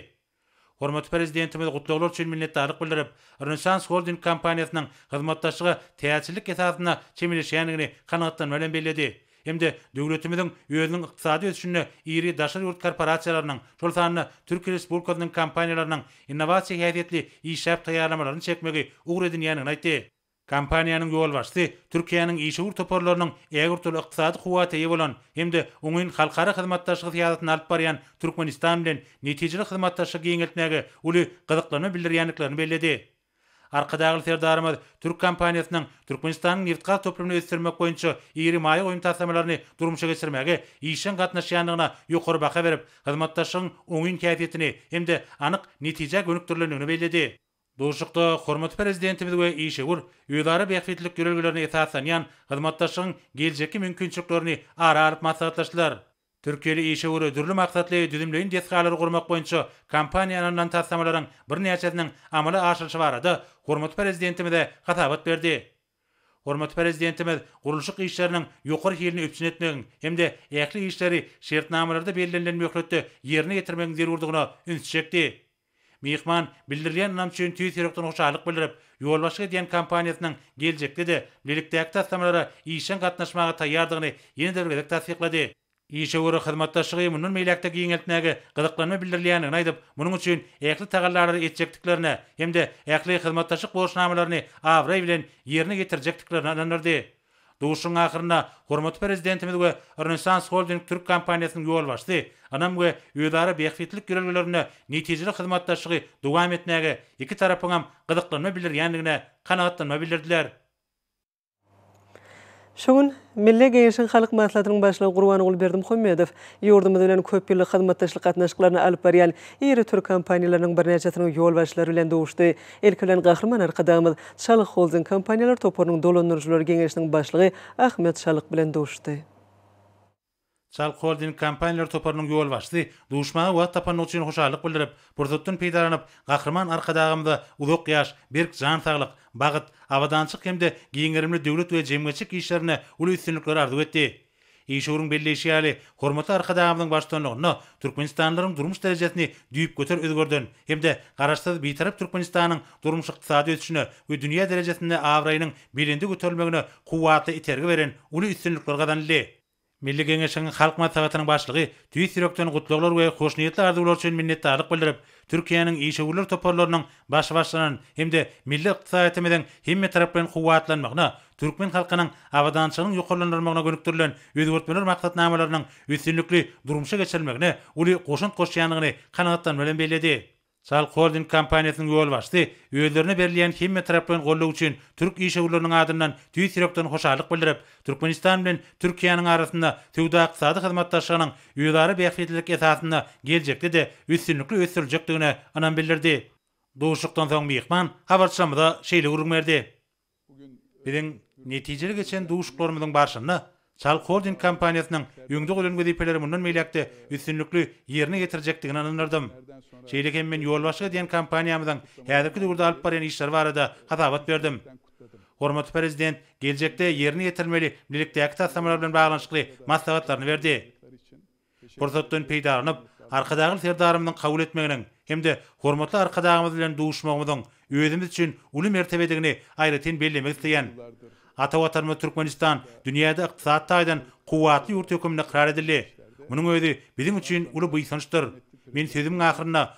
Hormatly Prezidentimiz gutlaglar üçin minnetdarlyk bildirip, Rönesans Holding kompaniýasynyň hyzmatdaşlyga täzeçillik esasynda çemeleşýändigini kanagatlanma bilen belledi hem-de döwletimiziň özüniň ykdysady ösüşinde iri daşary ýurt korporasiýalarynyň, şol sanda Türkiýe Respublikasynyň kompaniýalarynyň innowasiýa häsiýetli işläp taýýarlamalaryny çekmegi ugur edinýändigini aýtdy. Kompaniýanyň ýolbaşçysy Türkiýäniň işewür toparlarynyň ägirt uly ykdysady kuwwata eýe bolan hem-de oňyn halkara hyzmatdaşlygy syýasatyny alyp barýan Türkmenistan bilen netijeli hyzmatdaşlygy giňeltmäge uly gyzyklanma bildirýändiklerini belledi. Arkadagly Serdarymyz türk kompaniýasynyň Türkmenistanyň nebitgaz toplumyny ösdürmek boýunça iri maýa goýum taslamalaryny durmuşa geçirmäge işjeň gatnaşýandygyna ýokary baha berip, hyzmatdaşlygyň oňyn häsiýetini hem-de anyk netijä gönükdirilendigini belledi. Duşuşykda hormatly Prezidentimiz we işewür, özara bähbitlilik ýörelgelerine esaslanýan hyzmatdaşlygyň geljekki mümkinçiliklerini ara alyp maslahatlaşdylar. Türkiýeli işewür dürli maksatly düzümleýin desgalary gurmak boýunça kompaniýa ynanylan taslamalaryň birnäçesiniň amala aşyrylyşy barada hormatly Prezidentimize hasabat berdi. Hormatly Prezidentimiz gurluşyk işleriniň ýokary hilini üpjün etmegiň hem-de ähli işleri şertnamalarda bellenilen möhletde ýerine ýetirmegiň zerurdygyna üns çekdi. Myhman bildirilýän ynam üçin tüýs ýürekden hoşallyk bildirip, ýolbaşçylyk edýän kompaniýasynyň geljekde-de bilelikdäki taslamalara işjeň gatnaşmaga taýýardygyny ýene-de bir gezek tassyklady. Işewür hyzmatdaşlygy mundan beýläk-de giňeltmäge gyzyklanma bildirilýändigini aýdyp, munuň üçin ähli tagallalary etjekdiklerine hem-de ähli hyzmatdaşlyk borçnamalaryny abraý bilen ýerine ýetirjekdiklerine ynandyrdy. Duşuşygyň ahyrynda hormatly Prezidentimiz we Rönesans Holding türk kompaniýasynyň ýolbaşçysy ynam we özara bähbitlilik ýörelgelerinde netijeli hyzmatdaşlygy dowam etmäge iki tarapyňam gyzyklanma bildirýändigine kanagatlanma bildirdiler. Şu gün Milli Geňeşiň Halk Maslahatynyň Başlygy Gurbanguly Berdimuhamedow ýurdumyz bilen köp ýyllyk hyzmatdaşlyk gatnaşyklaryny alyp barýan iri türk kompaniýalarynyň birnäçesiniň ýolbaşçylary bilen duşuşdy. Ilki bilen Gahryman Arkadagymyz Çalyk Holding kompaniýalar toparynyň dolandyryjylar geňeşiniň başlygy Ahmet Çalyk bilen duşdy. Çalyk Holding kompaniýalar toparynyň ýolbaşçysy duşmaga wagt tapandygy üçin hoşallyk bildirip, pursatdan peýdalanyp, Gahryman Arkadagymyza uzak ýaş, berk jan saglyk, bagyt, abadançyk hem-de giň gerimli döwlet we jemgyýetçilik işlerinde uly üstünlikler arzuw etdi. Işewüriň belleýşi ýaly, hormatly Arkadagymyzyň baştutanlygynda türkmenistanlylaryň durmuş derejesini düýpgöter özgerden hem-de Garaşsyz, Bitarap Türkmenistanyň durmuş-ykdysady ösüşine we dünýä derejesinde abraýynyň belende göterilmegine kuwwatly itergi beren uly üstünlikler gazanyldy. Milli Geňeşiň Halk Maslahatynyň Başlygy tüýs ýürekden gutlaglar we hoşniýetli arzuwlar üçin minnetdarlyk bildirip, Türkiýäniň işewürler toparlarynyň başbaşlanan hem-de milli ykdysadyýetimiziň hemmetaraplaýyn kuwwatlanmagyna, türkmen halkynyň abadançylygynyň ýokarlandyrylmagyna gönükdirilen özgertmeler maksatnamalarynyň üstünlikli durmuşa geçirilmegine uly goşant goşýandygyny kanagatlanma bilen belledi. Çalk Holding kompaniýasynyň ýolbaşçysy özlerine berilýän hemmetaraplaýyn goldaw üçin türk işewürleriniň adyndan tüýs ýürekden hoşallyk bildirip, Türkmenistan bilen Türkiýäniň arasynda söwda-ykdysady hyzmatdaşlygynyň özara bähbitlilik esasynda geljekde-de üstünlikli ösdüriljekdigine ynam bildirdi. Duşuşykdan soň myhman habarçylarymyza şeýle gürrüň berdi. Biziň netijeli geçen duşuşyklarymyzyň barşynda Çal Holding kompaniýasynyň öňde goýlan wezipeleri mundan beýläk-de üstünlikli ýerine ýetirjekdigine ynandyrydym. Şeýle hem men ýolbaşçylyk edýän kompaniýamyzyň häzirki döwürde alyp barýan işleri barada hasabat berdim. Hormatly Prezident geljekde ýerine ýetirilmeli bilelikdäki taslamalar bilen baglanyşykly maslahatlaryny berdi. Pursatdan peýdalanyp, Arkadagly Serdarymyzyň kabul etmeginiň hem-de hormatly Arkadagymyz bilen duşmagymyzyň özümiz üçin uly mertebedigini aýratyn bellemek isleýän. Ata Watanymyz Türkmenistan dünýäde ykdysady taýdan kuwwatly ýurt höküminde ykrar edildi. Munuň özi biziň üçin uly buýsançdyr. Men sözümiň ahyrynda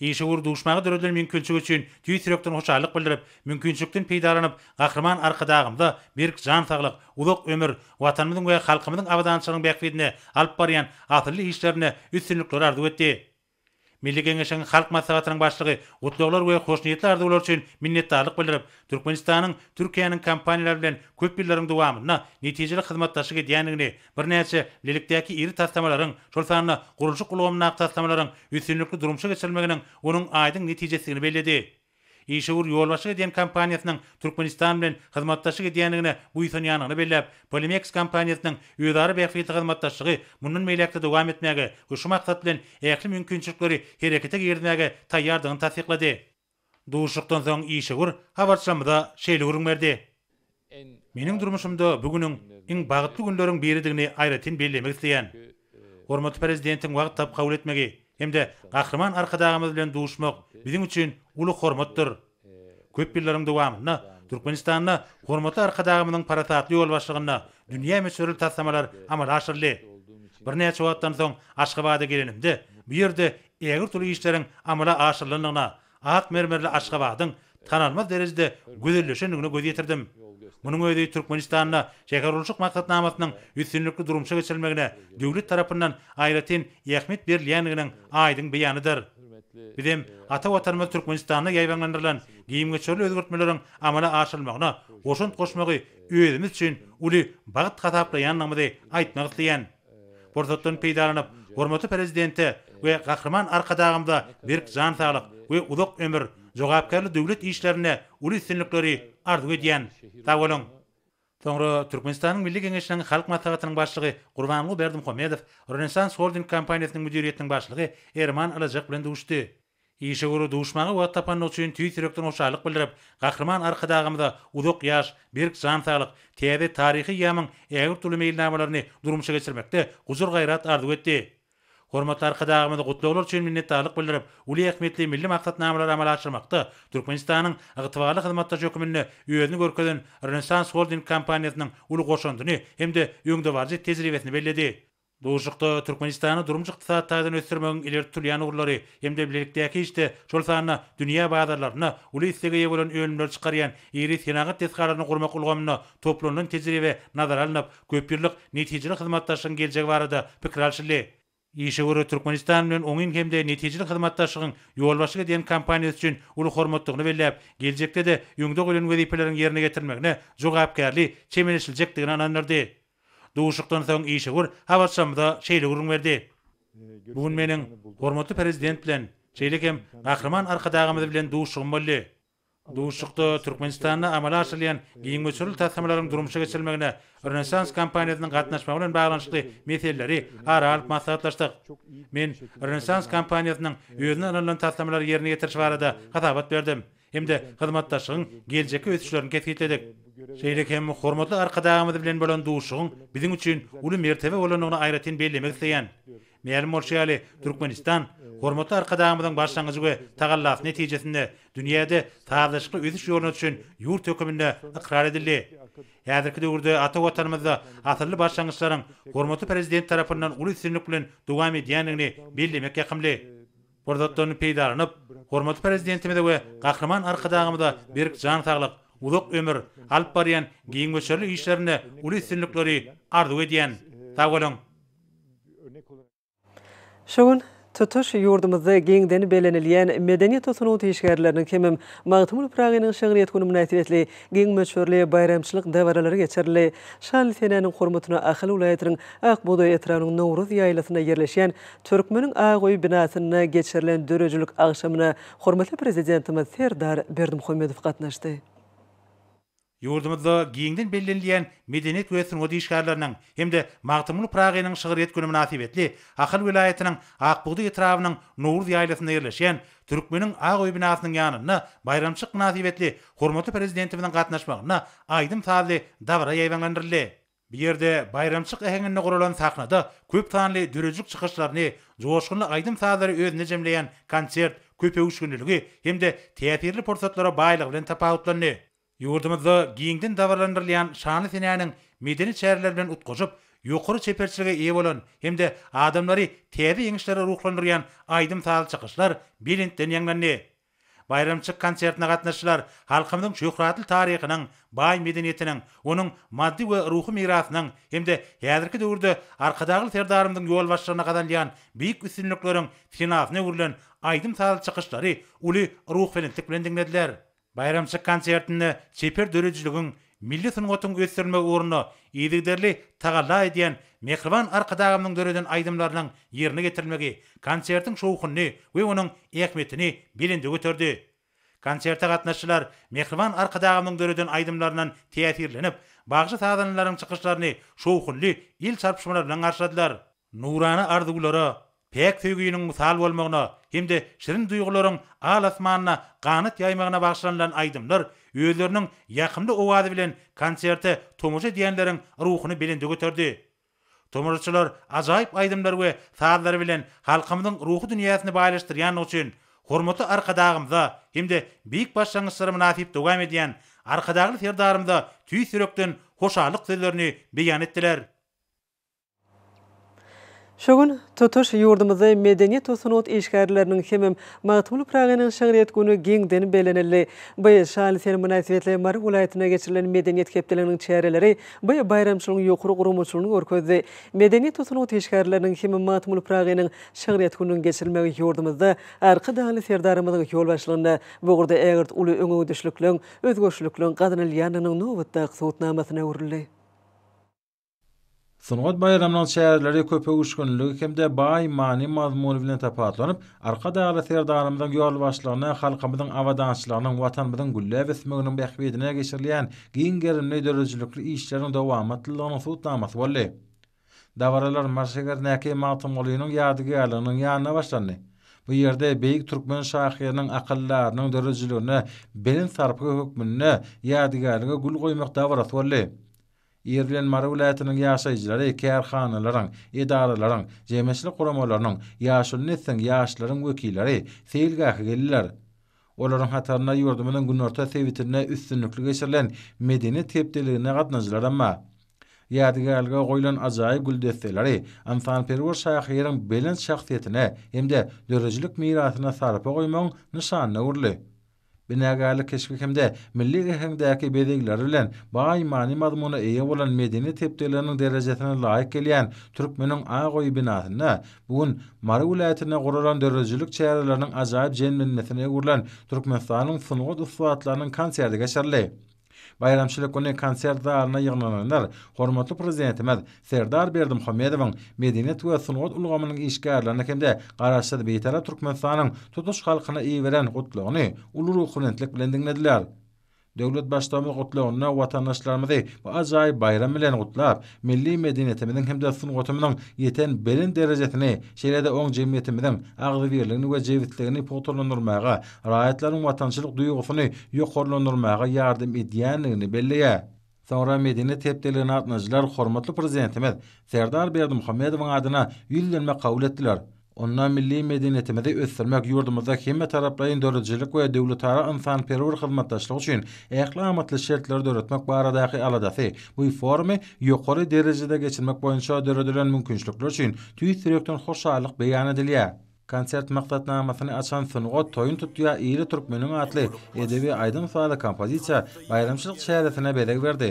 Işewür duşmaga döredilen mümkinçilik üçin tüýs ýürekden hoşallyk bildirip, mümkinçilikden peýdalanyp, Gahryman Arkadagymyza berk jan saglyk, uzak ömür, Watanymyzyň we halkymyzyň abadançylygynyň bähbidine alyp barýan asylly işlerinde üstünlikler arzuw etdi. Milli Geňeşiň Halk Maslahatynyň Başlygy gutlaglar we hoşniýetli arzuwlar üçin minnetdarlyk bildirip, Türkmenistanyň Türkiýäniň kompaniýalary bilen köp ýyllaryň dowamynda netijeli hyzmatdaşlyk edýändigini, Birnäçe Lilikdäki iri taslamalaryň, şol sanda gurluşyk ulgamyndaky taslamalaryň üstünlikli durmuşa geçirilmeginiň onuň aýdyň netijesidigini belledi. Işewür ýolbaşçylyk edýän kompaniýasynyň Türkmenistan bilen hyzmatdaşlyk edýändigine buýsanýandygyny belläp, Polimeks kompaniýasynyň özara bähbitli hyzmatdaşlygy mundan beýläk-de dowam etmäge we şu maksat bilen ähli mümkinçilikleri herekete girizmäge taýýardygyny tassyklady. Duşuşykdan soň işewür habarçymyza şeýle gürrüň berdi, Meniň durmuşymda bu günüň iň bagtly günleriň biridigini aýratyn bellemek isleýän. Hormatly Prezidentiň wagt tapyp kabul etmegi hem-de Gahryman Arkadagymyz bilen duşmak biziň üçin uly hormatdyr. Köp ýyllaryň dowamynda Türkmenistanda hormatly Arkadagymyzyň parasatly ýolbaşçylygynda dünýä möçberli taslamalar amala aşyryldy. Birnäçe wagtdan soň Aşgabada gelenimde, bu ýerde ägirt uly işleriň amala aşyrylandygyna, ak mermerli Aşgabadyň tanalmaz derejede gözelleşendigine göz ýetirdim. Munuň özi Türkmenistanda şähergurluşyk maksatnamasynyň üstünlikli durmuşa geçirilmegine döwlet tarapyndan aýratyn ähmiýet berilýändiginiň aýdyň beýanydyr. Biz hem ata Watanymyz Türkmenistanda ýaýbaňlandyrylan gemgöçerli özgertmeleriň amala aşyrylmagyna goşant goşmagy özümiz üçin uly bagt hasaplaýandygymyzy aýtmak isleýän. Pursatdan peýdalanyp, hormatly Prezidente we Gahryman Arkadagymyza berk jan saglyk we uzak ömür, jogapkärli döwlet işlerinde uly üstünlikleri arzuw edýän. Sag boluň! Soňra Türkmenistanyň Milli Geňeşiniň Halk Maslahatynyň Başlygy Gurbanguly Berdimuhamedow Rönesans Holding kompaniýasynyň müdiriýetiniň başlygy Erman Alažak bilen duşdy. Işe görä duşmaga wagt tapanyny üçin tüýs ýürekden hoşallyk bildirip, Gahryman Arkadagymyza uzak ýaş, berk jan saglyk, täze taryhy eýýamyň ägirt uly meýilnamalaryny durmuşa geçirmekde gujur-gaýrat arzuw etdi. Hormatly Arkadagymyzy gutlaglar üçin minnetdarlyk bildirip, uly ähmiýetli milli maksatnamalary amala aşyrmakda Türkmenistanyň ygtybarly hyzmatdaş höküminde özüni görkezen Rönesans Holding kompaniýasynyň uly goşandyny hem-de öňdebaryjy tejribesini belledi. Duşuşykda Türkmenistany durmuş-ykdysady taýdan ösdürmegiň ileri tutulýan ugurlary hem-de bilelikdäki işde, şol sanda dünýä bazarlarynda uly islege eýe bolan önümleri çykarýan iri senagat desgalaryny gurmak ulgamynda toplanylan tejribe nazara alnyp, köpýyllyk netijeli hyzmatdaşlygyň geljegi barada pikir alşyldy. Işe görä Türkmenistan bilen oňyn hem-de netijeli hyzmatdaşlygyň ýolbaşçylyk edýän kompaniýasy üçin uly hormatdygyny belläp, geljekde-de öňde goýlan wezipeleriň ýerine getirilmegine jogapkärli çemeleşiljekdigine ynandyrdy. Duşuşykdan soň işewür habarçymyza şeýle gürrüň berdi, Bu gün meniň hormatly Prezident bilen, şeýle hem Gahryman Arkadagymyz bilen duşuşygym boldy. Duşuşykda Türkmenistanda amala aşyrylýan giň möçberli taslamalaryň durmuşa geçirilmegine Rönesans kompaniýasynyň gatnaşmagy bilen baglanyşykly meseleleri ara alyp maslahatlaşdyk. Men Rönesans kompaniýasynyň özüne ynanylan taslamalary ýerine ýetiriş barada hasabat berdim. hem-de hyzmatdaşlygyň geljekki ösüşlerini kesgitledik. Şeýle hem hormatly Arkadagymyz bilen bolan duşuşygyň biziň üçin uly mertebe bolandygyny aýratyn bellemek isleýän. Mälim bolşy ýaly, Türkmenistan hormatly Arkadagymyzyň başlangyjy we tagallasy netijesinde dünýäde sazlaşykly ösüş ýoluna düşen ýurt höküminde ykrar edildi. Häzirki döwürde ata Watanymyzda asylly başlangyçlaryň hormatly Prezident tarapyndan uly üstünlik bilen dowam edýändigini bellemek ýakymly. pursatdan peýdalanyp, hormatly Prezidentimize we Gahryman Arkadagymyza berk jan saglyk, uzak ömür, alyp barýan giň möçberli işlerinde uly üstünlikleri arzuw edýän. Sag boluň! Şu gün tutuş ýurdumyzda giňden bellenilýän Medeniýet we sungat işgärleriniň hemem Magtymguly Pyragynyň şygryýet güni mynasybetli giň möçberli baýramçylyk dabaralary geçirildi. Şanly senäniň hormatyna Ahal welaýatynyň Akbugdaý etrabynyň Nowruz ýaýlasynda ýerleşýän Türkmeniň Ak öý binasynda geçirilen döredijilik agşamyna hormatly Prezidentimiz Serdar Berdimuhamedow gatnaşdy. Ýurdumyzda giňden bellenilýän medeniýet we sungat işgärleriniň hem-de Magtymguly Pyragynyň şygryýet güni mynasybetli Ahal welaýatynyň Akbugda etrabynyň Nowruz ýaýlasynda ýerleşýän Türkmeniň Ak öý binasynyň ýanynda baýramçylyk mynasybetli hormatly Prezidentimiziň gatnaşmagynda aýdym-sazly dabara ýaýbaňlandyryldy. Bu ýerde baýramçyk äheňinde guralan sahnada köp sanly döredijilik çykyşlaryny, joşgunly aýdym-sazlary özünde jemleýän konsert köpöwüşginliligi hem-de täsirli pursatlara baýlygy bilen tapawutlandy. Ýurdumyzda giňden dabaralandyrylýan şanly senäniň medeni çäreler bilen utgaşyp, ýokary çeperçilige eýe bolan hem-de adamlary täze ýeňişlere ruhlandyrýan aýdym-sazly çykyşlar belentden ýaňlandy. Baýramçyk konsertine gatnaşyjylar halkymyzyň şöhratly taryhynyň, baý medeniýetiniň, onuň maddy we ruhy mirasynyň hem-de häzirki döwürde Arkadagly Serdarymyzyň ýolbaşçylygynda gazanylýan beýik üstünlikleriň senasyna öwrülen aýdym-sazly çykyşlary uly ruhubelentlik bilen diňlediler. Baýramçyk konsertinde çeper döredijiligiň, Milli sungatyň ösdürilmegi ugrunda yzygiderli tagalla edýän mähriban Arkadagymyzyň döreden aýdymlarynyň ýerine getirilmegi konsertiň şowhunyny we onuň ähmiýetini belende göterdi. Konserte gatnaşyjylar mähriban Arkadagymyzyň döreden aýdymlaryndan täsirlenip, bagşy-sazandalaryň çykyşlaryny şowhunly el çarpyşmalar bilen garşyladylar. Nurana arzuwlara, päk söýginiň mysal bolmagyna hem-de şirin duýgularyň al-asmanda ganat ýaýmagyna bagyşlanylan aýdymlar özleriniň ýakymly owazy bilen konserte tomaşa edýänleriň ruhuny belende göterdi. Tomaşaçylar ajaýyp aýdymlary we sazlary bilen halkymyzyň ruhy dünýäsini baýlaşdyrýandygy üçin hormatly Arkadagymyza hem-de beýik başlangyçlara mynasyp dowam edýän Arkadagly Serdarymyza tüýs ýürekden hoşallyk sözlerini beýan etdiler. Şu gün tutuş ýurdumyzda Medeniýet we sungat işgärleriniň hemem Magtymguly Pyragynyň şygryýet güni giňden bellenildi. By şaly sen mynasybetli Mary welaýatynda geçirilen Medeniýet hepdeliginiň çäreleri by baýramçylygyň ýokary guramaçylygyny görkezdi. Medeniýet we sungat işgärleriniň hemem Magtymguly Pyragynyň şygryýet gününiň geçirilmegi ýurdumyzda Arkadagly Serdarymyzyň ýolbaşçylygynda bu ugurda ägirt uly öňegidişlikligiň, özgerişlikligiň gazanylýandygynyň nobatdaky subutnamasyna öwrüldi. Sungat baýramynyň çäreleri köp öwüşginligi hem-de baý many-mazmuny bilen tapawutlanyp, Arkadagly Serdarymyzyň ýolbaşçylygynda halkymyzyň abadançylygynyň, Watanymyzyň gülläp ösmeginiň bähbidine geçirilýän giň gerimli döredijilikli işleriň dowamatlylygynyň subutnamasy boldy. Dabaralar Marshegerindäki Magtymgulynyň ýadygärliginiň ýanynda başlandy. Bu ýerde beýik türkmen şahyrynyň akyldarynyň döredijiligine belent sarpgy hökmünde ýadygärlige gül goýmak dabarasy boldy. Ir bilen Mary welaýatynyň ýaşaýjylary kärhanalaryň, edaralaryň, jemgyýetçilik guramalarynyň, ýaşuly nesliň, ýaşlaryň wekilleri seýilgähe geldiler. Olaryň hatarynda ýurdumyzyň günorta sebitinde üstünlikli geçirilen Medeniýet hepdeligine gatnažylaram bar. Ýadygärlige goýlan ajaýyp gül desseleri ynsanperwer şahyryň belent şahsyýetine hem-de döredijilik mirasyna sarpa goýmagyň nyşanyna öwrüldi. Binagärlik keşbi hem-de milli äheňdäki bezegleri bilen baý many-mazmuna eýe bolan medeniýet hepdeliginiň derejesine laýyk gelýän Türkmeniň ak öýi binasynda bu gün Mary welaýatynda guralan döredijilik çäreleriniň ajaýyp jemlenmesine öwrülen Türkmenistanyň sungat ussatlarynyň konserti geçirildi. Baýramçylyk güni konsert zalyna ýygnananlar hormatly Prezidentimiz Serdar Berdimuhamedowyň, medeniýet we sungat ulgamynyň işgärlerine hem-de Garaşsyz Bitarap Türkmenistanyň tutuş halkyna iberen Gutlagyny uly ruhubelentlik bilen diňlediler. Döwlet Baştugumyz Gutlagynda watandaşlarymyzy bu ajaýyp baýram bilen gutlap, milli medeniýetimiziň hem-de sungatymyzyň ýeten belent derejesini, şeýle-de oň jemgyýetimiziň agzybirligini we jebisligini pugtalandyrmaga raýatlaryň watançylyk duýgusyny ýokarlandyrmaga ýardam edýändigini belleýär. Soňra medeniýet hepdeligine gatnadyjylar hormatly Prezidentimiz Serdar Berdimuhamedowyň adyna ýüzlenme kabul etdiler. Onda milli medeniýetimizi ösdürmek, ýurdumyzda hemmetaraplaýyn döredijilik we döwletara ynsanperwer hyzmatdaşlyk üçin ähli amatly şertleri döretmek baradaky aladasy bu forumy ýokary derejede geçirmek boýunça döredilen mümkinçilikler üçin tüýs ýürekden hoşallyk beýan edilýär. Konsert maksatnamasyny açan Sungat toýun tutýa ýyly türkmeniň atly edebi aýdym-sazly kompozisiýa baýramçylyk çäresine bezeg berdi.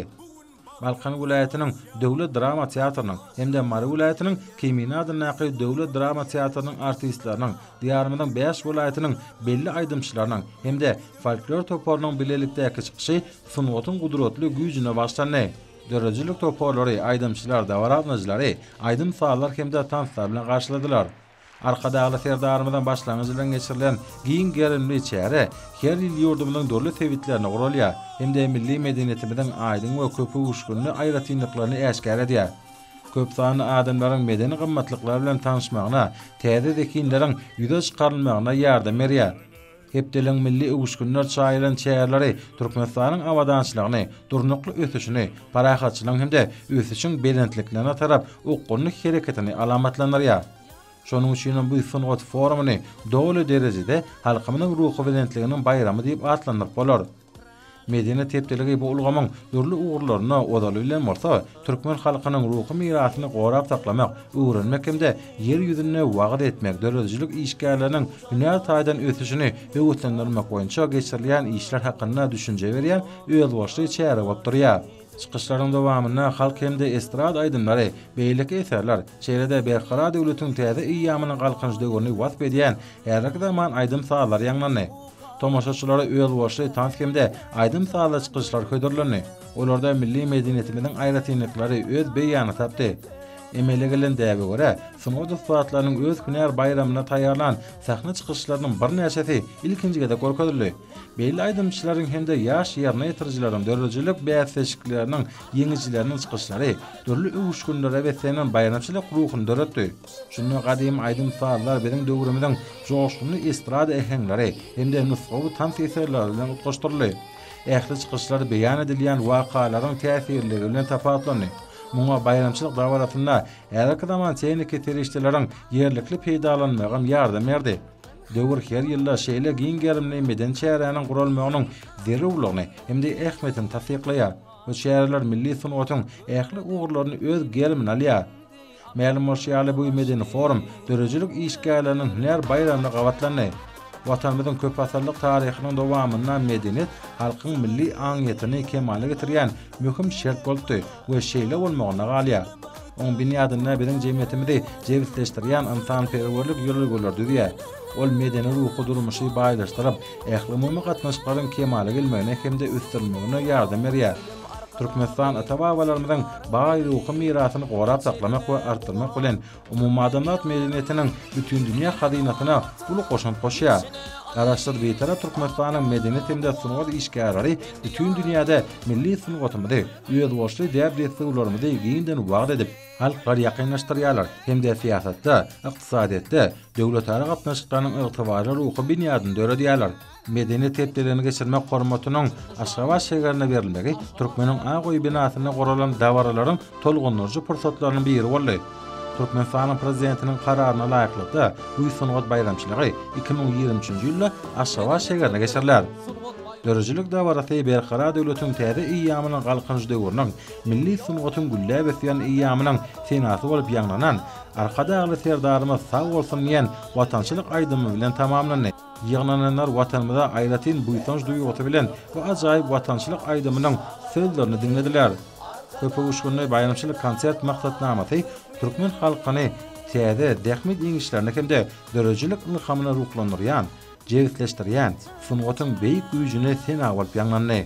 Balkan welaýatynyň Döwlet drama teatrynyň hem-de Mary welaýatynyň Kemine adyndaky Döwlet drama teatrynyň artistleriniň, Diýarymyzyň bäş welaýatynyň belli aýdymçylarynyň hem-de folklor toparynyň bilelikdäki çykyşy sungatyň gudratly güýjüne bagyşlandy. Döredijilik toparlary aýdymçylar dabaragnajylary aýdym-sazlar hem-de tanslar bilen garşyladylar. Arkadagly Serdarymyzyň başlangyjy bilen geçirilen giň gerimli çäre her ýyl ýurdumyzyň dürli sebitlerinde guralýar hem-de milli medeniýetimiziň aýdyň we köpöwüşginli aýratynlyklaryny äşgär edýär. Köp sanly adamlaryň medeni gymmatlyklar bilen tanyşmagyna, täze zehinleriň ýüze çykarylmagyna ýardam berýär. Hepdeligiň milli öwüşginler çaýylan çäreleri Türkmenistanyň abadançylygyny, durnukly ösüşini, parahatçylygyň hem-de ösüşiň belentliklerine tarap okgunly hereketini alamatlandyrýar. Şonuň üçin hem bu sungat forumyny doly derejede halkymyzyň ruhubelentliginiň baýramy diýip atlandyryp bolar. Medeniýet hepdeligi bu ulgamyň dürli ugurlaryna, ozaly bilen bolsa, türkmen halkynyň ruhy mirasyny gorap saklamak, öwrenmek hem-de Ýer ýüzünde wagyz etmek, döredijilik işgärleriniň hünär taýdan ösüşini höweslendirmek boýunça geçirilýän işler hakynda düşünje berýän özboluşly çäre bolup durýar. Çykyşlaryň dowamynda halk hem-de estrada aýdymlary, beýleki eserler, şeýle-de Berkarar döwletiň täze eýýamynyň Galkynyş döwrüni wasp edýän häzirki zaman aýdym-sazlary ýaňlandy. Tomaşaçylara özboluşly tans hem-de aýdym-sazly çykyşlar hödürlendi. Olarda milli medeniýetimiziň aýratynlyklary öz beýanyny tapdy. Emele gelen däbe görä, sungat ussatlarynyň öz hünär baýramyna taýýarlan sahna çykyşlarynyň birnäçesi ilkinji gezek görkezildi. Belli aýdymçylaryň hem-de ýaş ýerine ýetirijileriň döredijilik bäsleşikleriniň ýeňijileriniň çykyşlary dürli öwüşginlere beslenen baýramçylyk ruhuny döretdi. Şunda gadymy aýdym-sazlar biziň döwrümiziň joşgunly estrada äheňleri hem-de nusgawy tans eserleri bilen utgaşdyryldy. Ähli çykyşlar beýan edilýän wakalaryň täsirliligi bilen tapawutlandy. Muňa baýramçylyk dabarasynda häzirki zaman tehniki serişdeleriň ýerlikli peýdalanmagam ýardam berdi. Döwür her ýylda şeýle giň gerimli medeni çäräniň guralmagynyň zerurlygyny hem-de ähmiýetini tassyklaýar. Bu çäreler milli sungatyň ähli ugurlaryny öz gerimine alýar. Mälim bolşy ýaly, bu medeni forum döredijilik işgärleriniň hünär baýramyna gabatlandy. Watanymyzyň köpasyrlyk taryhynyň dowamynda medeniýet halkyň milli aňyýetini kemala getirýän möhüm şert bolupdy we şeýle bolmagynda galýar. Oň binýadynda biziň jemgyýetimizi jebisleşdirýän ynsanperwerlik ýörelgeleri düzýär. Ol medeni-ruhy durmuşy baýlaşdyryp, ählumumy gatnaşyklaryň kemala gelmegine hem-de ösdürilmegine ýardam berýär. Türkmenistan ata-babalarymyzyň baý ruhy mirasyny gorap saklamak we artdyrmak bilen, umumadamzat medeniýetiniň bütindünýä hazynasyna uly goşant goşýar. Garaşsyz Bitarap Türkmenistanyň medeniýet hem-de sungat işgärleri bütin dünýäde milli sungatymyzy, özboluşly däp-dessurlarymyzy giňden wagyz edip, halklary ýakynlaşdyrýarlar hem-de syýasatda, ykdysadyýetde, döwletara gatnaşyklarynyň ygtybarly ruhy binýadyny döredýärler. Medeniýet hepdelerini geçirmek hormatynyň Aşgabat şägerine berilmegi Türkmeniň ak öýi binasynda guralan dabaralaryň tolgundyryjy pursatlarynyň biri boldy. Türkmenistanyň Prezidentiniň Kararyna laýyklykda, bu sungat baýramçylygy iki müň ýigrimi üçünji ýylda Aşgabat şägerinde geçiriler. Döredijilik dabarasy Berkarar döwletiň täze eýýamynyň Galkynyş döwrüniň, milli sungatyň gülläp ösýän eýýamynyň senasy bolup ýaňlanan Arkadagly Serdarymyz sag bolsun diýen watançylyk aýdymy bilen tamamlandy. Ýygnananlar Watanymyza aýratyn buýsanç duýgusy bilen bu ajaýyp watançylyk aýdymynyň sözlerini diňlediler. Köpuguşgynly baýramçylyk konsert maksatnamasy türkmen halkyny täze, zähmet ýeňişlerine hem-de döredijilik ylhamyna ruhlandyrýan, jebisleşdirýän sungatyň beýik güýjüne sena bolup ýaňlandy.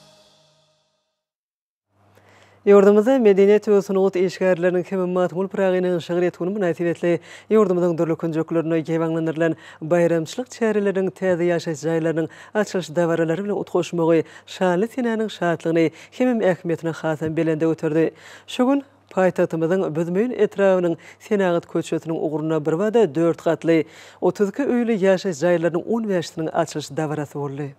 Ýurdumyzda Medeniýet we sungat işgärleriniň hem Magtymguly Pyragynyň şygryýet güni mynasybetli ýurdumyzyň dürli künjeklerinde ýaýbaňlandyrylan baýramçylyk çäreleriniň täze ýaşaýyş jaýlarynyň açylyş dabaralary bilen utgaşmagy şanly senäniň şatlygyny hemem ähmiýetini hasam belende göterdi. Şu gün paýtagtymyzyň Büzmeýin etrabynyň Senagat köçesiniň ugrunda birbada dört gatly, otuz iki öýli ýaşaýyş jaýlarynyň on bäşisiniň açylyş dabarasy boldy.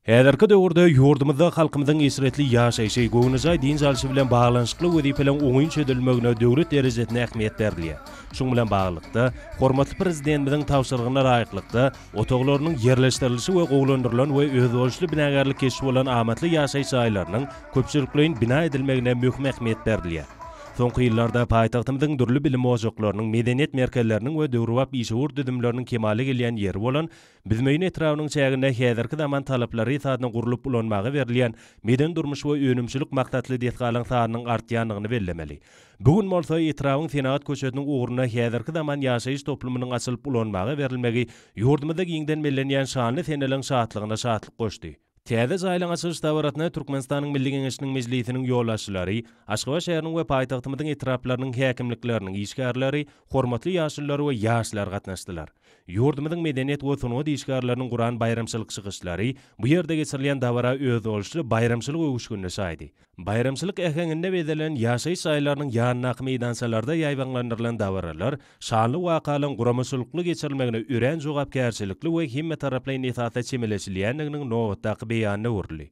Häzirki döwürde ýurdumyzda halkymyzyň eşretli ýaşaýşy, göwnejaý dynç alşy bilen baglanyşykly wezipeleriň oňyn çözülmegine döwlet derejesinde ähmiýet berilýär. Şunuň bilen baglylykda, hormatly Prezidentimiziň tabşyrygyna laýyklykda, otaglarynyň ýerleşdirilişi we gowulandyrylan we özboluşly binagärlik keşbi bolan amatly ýaşaýyş jaýlarynyň köpçülikleýin bina edilmegine möhüm ähmiýet berilýär. Soňky ýyllarda paýtagtymyzyň dürli bilim ojaklarynyň, medeniýet merkezleriniň we döwrebap işewür düzümleriniň kemala gelýän ýeri bolan Büzmeýin etrabynyň çäginde häzirki zaman talaplary esasyna gurlup ulanmaga berilýän medeni-durmuş we önümçilik maksatly desgalaryň sanynyň artýandygyny bellemeli. Bu gün bolsa etrabyň Senagat köçesiniň ugrunda häzirki zaman ýaşaýyş toplumynyň açylyp ulanmaga berilmegi ýurdumyzda giňden bellenýän şanly seneliň şatlygyna şatlyk goşdy. Täze jaýlaryň açylyş dabarasyna Türkmenistanyň Milli Geňeşiniň Mejlisiniň ýolbaşçylary, Aşgabat şäheriniň we paýtagtymyzyň etraplarynyň häkimlikleriniň işgärleri, hormatly ýaşulular we ýaşlar gatnaşdylar. Ýurdumyzyň medeniýet we sungat işgärleriniň guran baýramçylyk çykyşlary, bu ýerde geçirilýän dabara özboluşly baýramçylyk öwüşginine şaýdy. Baýramçylyk äheňinde bezelen ýaşaýyş jaýlarynyň ýanyndaky meýdançalarda ýaýbaňlandyrylan dabaralar şanly wakalaryň guramaçylykly geçirilmegine örän jogapkärçilikli we hemmetaraplaýyn esasda çemeleşilýändiginiň nobatdaky beýanyna öwrüldi.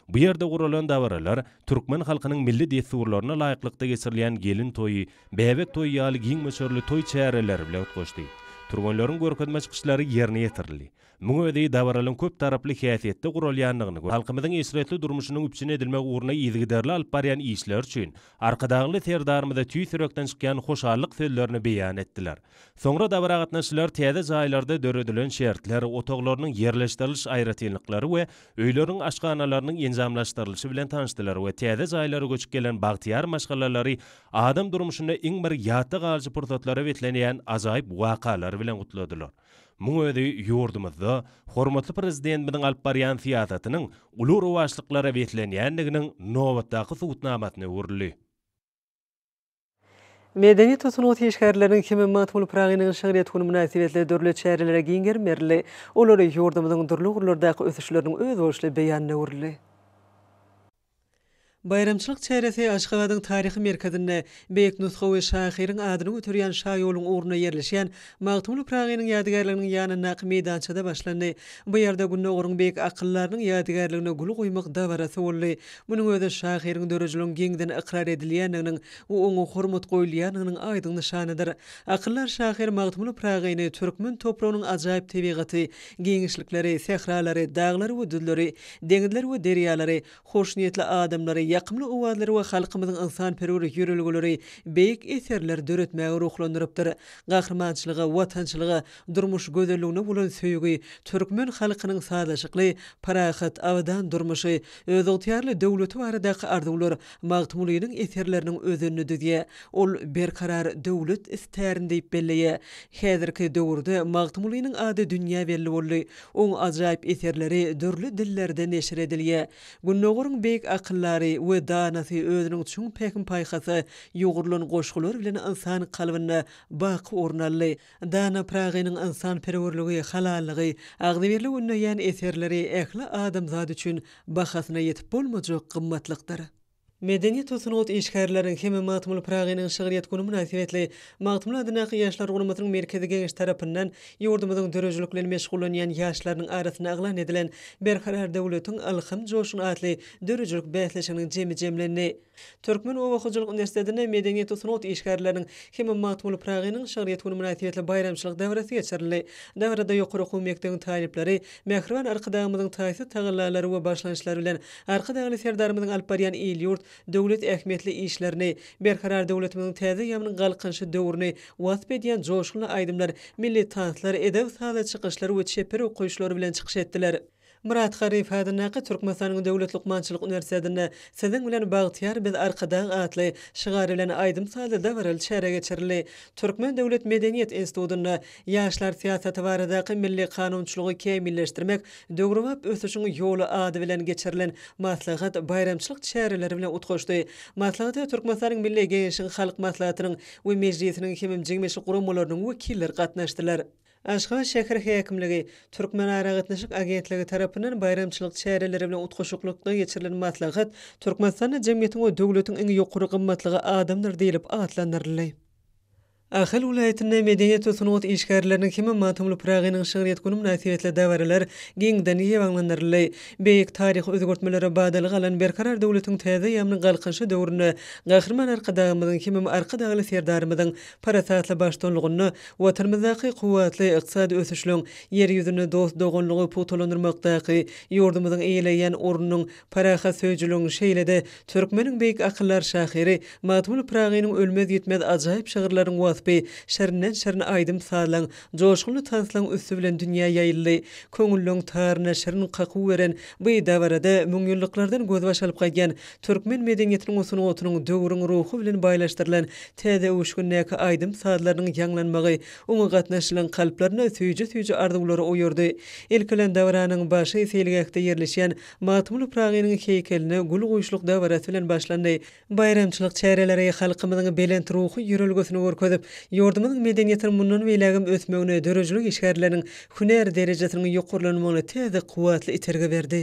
Bu ýerde guralan dabaralar türkmen halkynyň milli dessurlaryna laýyklykda geçirilýän gelin toýy, bäbek toýy ýaly giň möçberli toý çäreleri bilen utgaşdy. Türgenleriň görkezme çykyşlary ýerine ýetirildi. Muň özi dabaralyň köp taraply häsiýetde guralýandygyny we halkymyzyň eşretli durmuşynyň üpjün edilmegi ugrunda yzygiderli alyp barýan işleri üçin Arkadagly Serdarymyza tüýs ýürekden çykýan hoşallyk sözlerini beýan etdiler. Soňra dabara gatnaşyjylar täze jaýlarda döredilen şertler, otaglarynyň ýerleşdiriliş aýratynlyklary we öýleriň aşhanalarynyň enjamlaşdyrylyşy bilen tanyşdylar we täze jaýlara göçüp gelen bagtyýar maşgalalary adam durmuşynda iň bir ýatda galyjy pursatlary beslenýän ajaýyp wakalar bilen gutladylar. Muň özi ýurdumyzda hormatly Prezidentimiziň alyp barýan syýasatynyň uly rowaçlyklara beslenýändiginiň nobatdaky subutnamasyna öwrüldi. Medeniýet we sungat işgärleriniň Himmet Magtymguly-Pyragynyň şygryýet güni mynasybetli dürli çärelere giň gerim berildi. Olar ýurdumyzyň dürli ugurlardaky ösüşleriniň özboluşly beýanyna öwrüldi. Baýramçylyk çäresi Aşgabadyň taryhy merkezinde beýik nusgawy şahyryň adyny göterýän şaýoluň ugrunda ýerleşýän Magtymguly Pyragynyň ýadygärliginiň ýanyndaky meýdançada başlandy. Bu ýerde Gündogaryň beýik akyldarynyň ýadygärligine gül goýmak dabarasy boldy. Munuň özi şahyryň dörejiliginiň giňden ykrar edilýändiginiň we oňa hormat goýulýandygynyň aýdyň nyşanydyr. Akyldar şahyr Magtymguly Pyragyny türkmen topragynyň ajaýyp tebigaty, Giňişlikleri, sähralary, daglary we düzleri, deňizleri we derýalary, hoşniýetli adamlary, ýakymly owazlary we halkymyzyň ynsanperwer ýörelgeleri beýik eserler döretmäge ruhlandyrypdyr. Gahrymançylyga, watançylyga, durmuş gözelligine bolan söýgi, türkmen halkynyň sazlaşykly, parahat, abadan durmuşy, özygtyýarly döwleti baradaky arzuwlar, Magtymgulynyň eserleriniň özenini düzýär. Ol Berkarar döwlet istärin diýip belleýär. Häzirki döwürde Magtymgulynyň ady dünýä belli boldy. Oň ajaýyp eserleri dürli dillerde neşir edilýär. Gündogaryň beýik akyldary we danasy özüniň çuň pähim-paýhasy ýugrulan goşgular bilen ynsan kalbynda baky orun aldy. Dana Pragynyň ynsanperwerligi, halallygy, agzybirligi ündeýän eserleri ähli adamzat üçin bahasyna ýetip bolmajak gymmatlykdyr. Medeniýet we sungat işgärleriň hem-ä Magtymguly Pragynyň şygryýet güni mynasybetli Magtymguly adyndaky Ýaşlar guramasynyň Merkezi Geňeşi tarapyndan ýurdumyzyň döredijilik bilen meşgullanýan ýaşlarynyň arasynda yglan edilen Berkarar döwletiň ylham joşguny atly döredijilik bäsleşiginiň jemi jemlendi. Türkmen oba hojalyk uniwersitetinde medeniýet we sungat işgärleriniň hem-de Magtymguly Pyragynyň şygryýet güni mynasybetli baýramçylyk dabarasy geçirildi. Dabarada ýokary okuw mekdebiň talyplary mähriban Arkadagymyzyň taýsyz tagallalary we başlangyçlary bilen Arkadagly Serdarymyzyň alyp barýan il-ýurt, döwlet ähmiýetli işlerini, Berkarar döwletimiziň täze ýabynyň galkynyşy döwrüni wasp edýän joşgunly aýdymlar, milli tanslar, edeb-sazly çykyşlar we çeper okaýyşlar bilen çykyş etdiler. Myrat Garyp adyndaky Türkmenistanyň Döwlet lukmançylyk uniwersitetinde Siziň bilen bagtyýar biz Arkadag atly şygar bilen aýdym-sazly dabaraly çäre geçirildi. Türkmen döwlet medeniýet institutynda Ýaşlar syýasaty baradaky milli kanunçylygy kämilleşdirmek, döwrebap ösüşiň ýoly ady bilen geçirilen maslahat baýramçylyk çäreleri bilen utgaşdy. Maslahata Türkmenistanyň Milli Geňeşiň Halk Maslahatynyň we Mejlisiniň hemem jigmeşik guramalarynyň wekilleri gatnaşdylar. Aşgabat şäher häkimligi, Türkmenaragatnaşyk agentligi tarapyndan baýramçylyk çäreleri bilen utgaşyklykda geçirilen maslahat Türkmenistanda Jemgyýetiň we döwletiň iň ýokary gymmatlygy adamdyr diýlip atlandyryldy. Ahal welaýatynda medeniýet we sungat işgärleriniň hem-ä Magtymguly Pyragynyň şygryýet güni mynasybetli dabaralar giňden ýaýbaňlandyryldy. Beýik taryhy özgertmelere badalga alan Berkarar döwletiň täze eýýamynyň Galkynyşy döwründe Gahryman Arkadagymyzyň hemem Arkadagly Serdarymyzyň Parasatly baştullygynda Watanymyzdaky kuwwatly ykdysady ösüşliň, Ýer ýüzünde dost-doganlygy pugtalandyrmakdaky ýurdumyzyň eýeleýän ornunyň, parahatsöýüjiligiň, şeýle-de türkmeniň beýik akyldar şahyry Magtymguly Pyragynyň ölmez-ýitmez ajaýyp şygyrlarynyň waspy şirinden-şirin aýdym-sazlaň, joşgunly tanslaň üsti bilen dünýä ýaýyldy. Köňülleriň taryna şirin kakuw beren bu dabarada müňýyllyklardan gözbaş alyp gaýdýan Türkmen medeniýetiniň we sungatynyň döwrüň ruhy bilen baýlaşdyrylan täze öwüşgindäki aýdym-sazlarynyň ýaňlanmagy oňa gatnaşyjylaryň kalplarynda süýji-süýji arzuwlary oýardy. Ilki bilen dabaranyň başy seýilgähde ýerleşýän Magtymguly Pyragynyň heýkeline gül guýuşlyk dabarasy bilen başlandy. Baýramçylyk çäreleri halkymyzyň belent ruhy ýörelgesini görkezip, ýurdumyzyň medeniýetiniň mundan beýlägem ösmegine, döredijilik işgärleriniň hünär derejesiniň ýokarlanmagyna täze kuwwatly itergi berdi.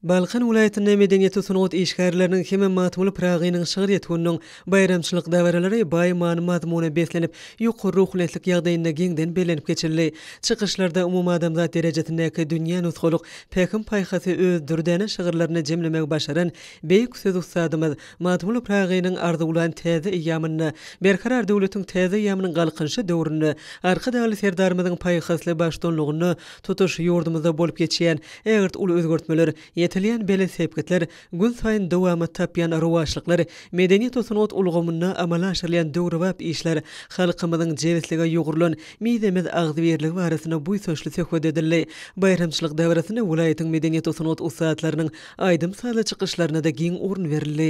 Balkan welaýatynda medeniýet-sungat işgärleriniň hem-ä Magtymguly Pyragynyň şygryýet gününiň baýramçylyk dabaralary baý many-mazmuna beslenip, ýokary ruhunetlik ýagdaýynda giňden bellenip geçildi. Çykyşlarda umumadamzat derejesindäki dünýä nusgalyk pähim-paýhasy öz dürdäne şygyrlarynda jemlemegi başaran beýik söz ussadymyz, Magtymguly Pyragynyň arzuwlan täze eýýamynda, Berkarar döwletiň täze eýýamynyň Galkynyşy döwründe, Arkadagly Serdarymyzyň paýhasly baştutanlygynda tutuş ýurdumyzda bolup geçýän ägirt uly özgertmeler, ýetilýän belent sepgitler, günsaýyn dowamat tapýan rowaçlyklar, medeniýet-sungat ulgamynda amala aşyrylýan döwrebap işler, halkymyzyň jebislige ýugrulan mizemez agzybirligi barasynda buýsançly söhbet edildi. Baýramçylyk dabarasynda welaýatyň medeniýet-sungat ussatlarynyň Aýdym-sazly çykyşlaryna-da giň orun berildi.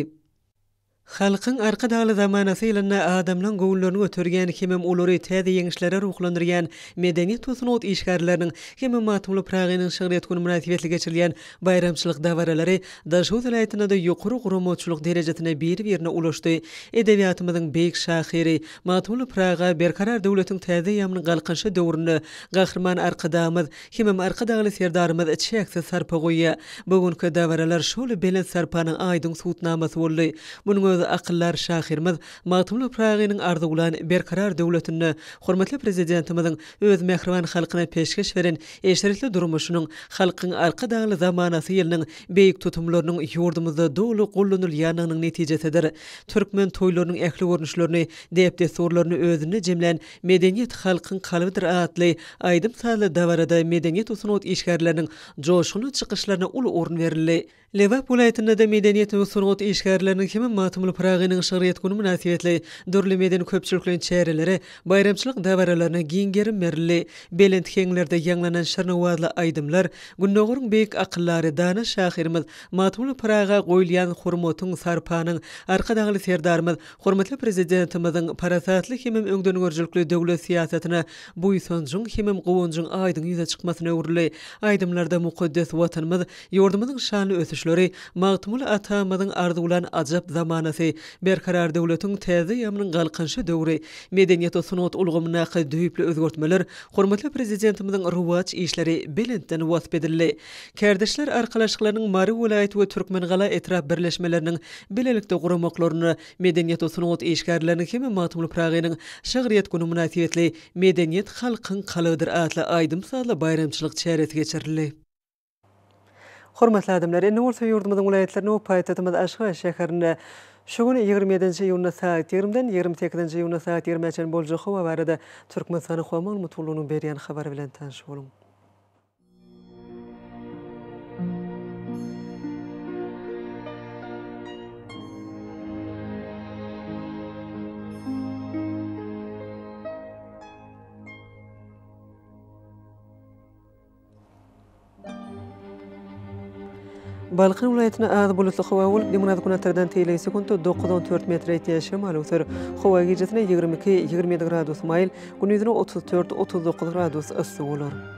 Halkyň Arkadagly zamanasy ýylynda adamlaň göwünlerini göterýän hemem olary täze ýeňişlere ruhlandyrýan medeniýet we sungat işgärleriniň hem-ä Magtymguly Pyragynyň şygryýet güni mynasybetli geçirilýän baýramçylyk dabaralary Daşoguz welaýatynda-da ýokary guramaçylyk derejesine biri-birine ulaşdy. Edebiýatymyzyň beýik şahyry Magtymguly Pyraga Berkarar döwletiň täze eýýamynyň Galkynyşy döwründe Gahryman Arkadagymyz Hemem Arkadagly Serdarymyz çäksiz sarpa goýýar. Bu günki dabaralar şol belent sarpanyň aýdyň subutnamasy boldy. Munuň özi akyldar şahyrymyz Magtymguly Pyragynyň arzuwlan Berkarar döwletinde hormatly Prezidentimiziň öz mähriban halkyna peşgeş beren eşretli durmuşynyň, Halkyň Arkadagly zamanasy ýylynyň beýik tutumlarynyň ýurdumyzda doly gollanylýandygynyň netijesidir. Türkmen toýlarynyň ähli görnüşlerini, däp-dessurlaryny özünde jemlän Medeniýet halkyň kalbydyr atly aýdym-sazly dabarada medeniýet we sungat işgärleriniň joşgunly çykyşlaryna uly orun berildi. Lebap welaýatynda-da medeniýet we sungat işgärleriniň hem Magtymguly Pyragynyň şygryýet güni mynasybetli dürli medeni-köpçülikleýin çärelere, baýramçylyk dabaralaryna giň gerim berildi. Belent heňlerde ýaňlanan şirin owazly aýdymlar Gündogaryň beýik akyldary, dana şahyrymyz Magtymguly Pyraga goýulýan hormatyň, sarpanyň, Arkadagly Serdarymyz Hormatly Prezidentimiziň parasatly hemem öňdengörüjilikli döwlet syýasatyna buýsanjyň hemem guwanjyň aýdyň ýüze çykmasyna öwrüldi. Aýdymlarda mukaddes Watanymyz, ýurdumyzyň şanly ösüşleri, Magtymguly atamyzyň arzuwlan ajap zamanasy, Berkarar döwletiň täze ýamynyň galkynyşy döwri, medeniýet we sungat ulgamyndaky düýpli özgertmeler, hormatly Prezidentimiziň rowaç işleri belentden wasp edildi. Kärdeşler arkalaşyklarynyň Mary welaýat we Türkmengala etrap birleşmeleriniň bilelikde guramaklaryna Medeniýet we sungat işgärleriniň hem-de Magtymguly Pyragynyň şygryýet güni mynasybetli Medeniýet halkyň kalbydyr atly aýdym-sazly baýramçylyk çäresi geçirildi. Hormatly adamlar! Indi bolsa ýurdumyzyň welaýatlaryna we paýtagtymyz Aşgabat şäherinde şu gün ýigrimi ýedinji iýunda sagat ýigrimiden ýigrimi sekizinji iýunda sagat ýigrimä çenli boljak howa barada Türkmenistanyň Howa maglumat gullugynyň berýän habary bilen tanyş boluň. Balkan welaýatyna az bulutly howa bolup, günorta-günbatardan teýleýin sekuntda dokuz on dört metre ýetýän şemal öwser. Howa gijesi ýigrimi iki, ýigrimi ýedi gradus maýyl, gündiz otuz dört, otuz dokuz gradus yssy bolar.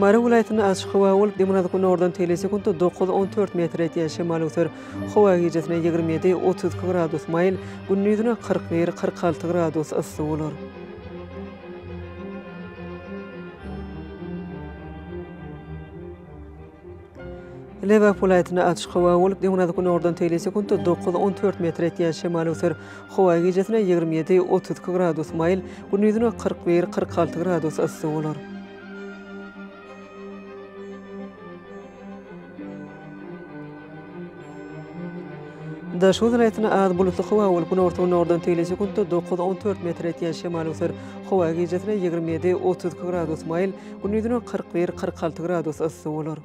Mary welaýatynda açyk howa bolup, demirgazyk-günordan telesekuntda dokuz, on dört metr etýän şemal öser. Howa gijesinden ýigrimi ýedi, otuz iki gradus maýyl, gündizine kyrk bir, kyrk alty gradus yssy bolar. Lebap welaýatynda açyk howa bolup, döwrebap günordan teýle sekuntda dokuz, on dört metr etýän şemal öser. Howa gijesine ýigrimi ýedi, otuz iki gradus maýyl, gündizine kyrk bir, kyrk alty gradus yssy bolar. Daşoguz welaýatynda az bulutly howa bolup, günorta-günordan teýle sekuntda dokuz, on dört metr etýän şemal öser. Howa gijesi ýigrimi ýedi, otuz iki gradus maýyl, gündizine kyrk bir, kyrk alty gradus yssy bolar.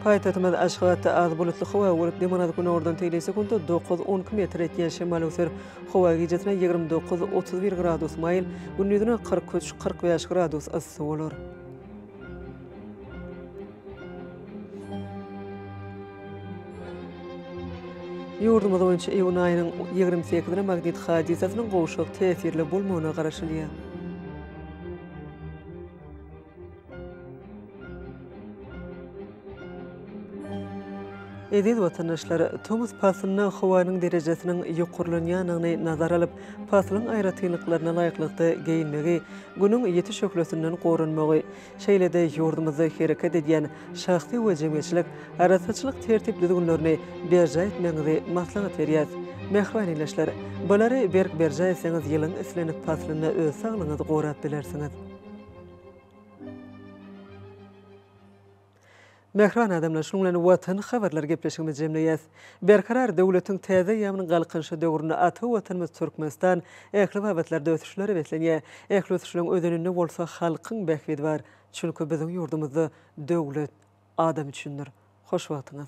Paýtagtymyz Aşgabatda az bulutly howa bolup, demirgazyk günordan tegelýän sekunta dokuz, on iki metr etýän şemal öwser. Howa gijesine ýigrimi dokuz, otuz bir gradus maýyl, gündizine kyrk üç, kyrk bäş gradus yssy bolar. Ýurdumyz boýunça iýun aýynyň ýigrimi sekizine magnit hadysasynyň gowşak täsirli bolmagyna garaşylýar. Eziz watandaşlar, tomus paslynda howanyň derejesiniň ýokarlanýandygyny nazara alyp, paslyň aýratynlyklaryna laýyklykda geýinmegi, Günüň ýiti şöhlesinden goranmagy, şeýle-de ýurdumyzda hereket edýän şahsy we jemgyýetçilik arassaçylyk tertip-düzgünlerini berjaý etmegiňizi maslahat berýäs. Mähriban ildeşler! Bulary berk berjaý etseňiz, ýylyň islendik paslynda öz saglygyňyzy gorap bilersiňiz. Mähriban adamlar, şunuň bilen Watany habarlary gepleşigimizi jemleýäs. Berkarar döwletiň täze eýýamynyň Galkynyşy döwründe ata Watanymyz Türkmenistan ähli babatlarda ösüşlere beslenýär. Ähli ösüşleriň özeninde bolsa halkyň bähbidi bar. Çünki biziň ýurdumyzda döwlet adam üçindir. Hoş wagtyňyz.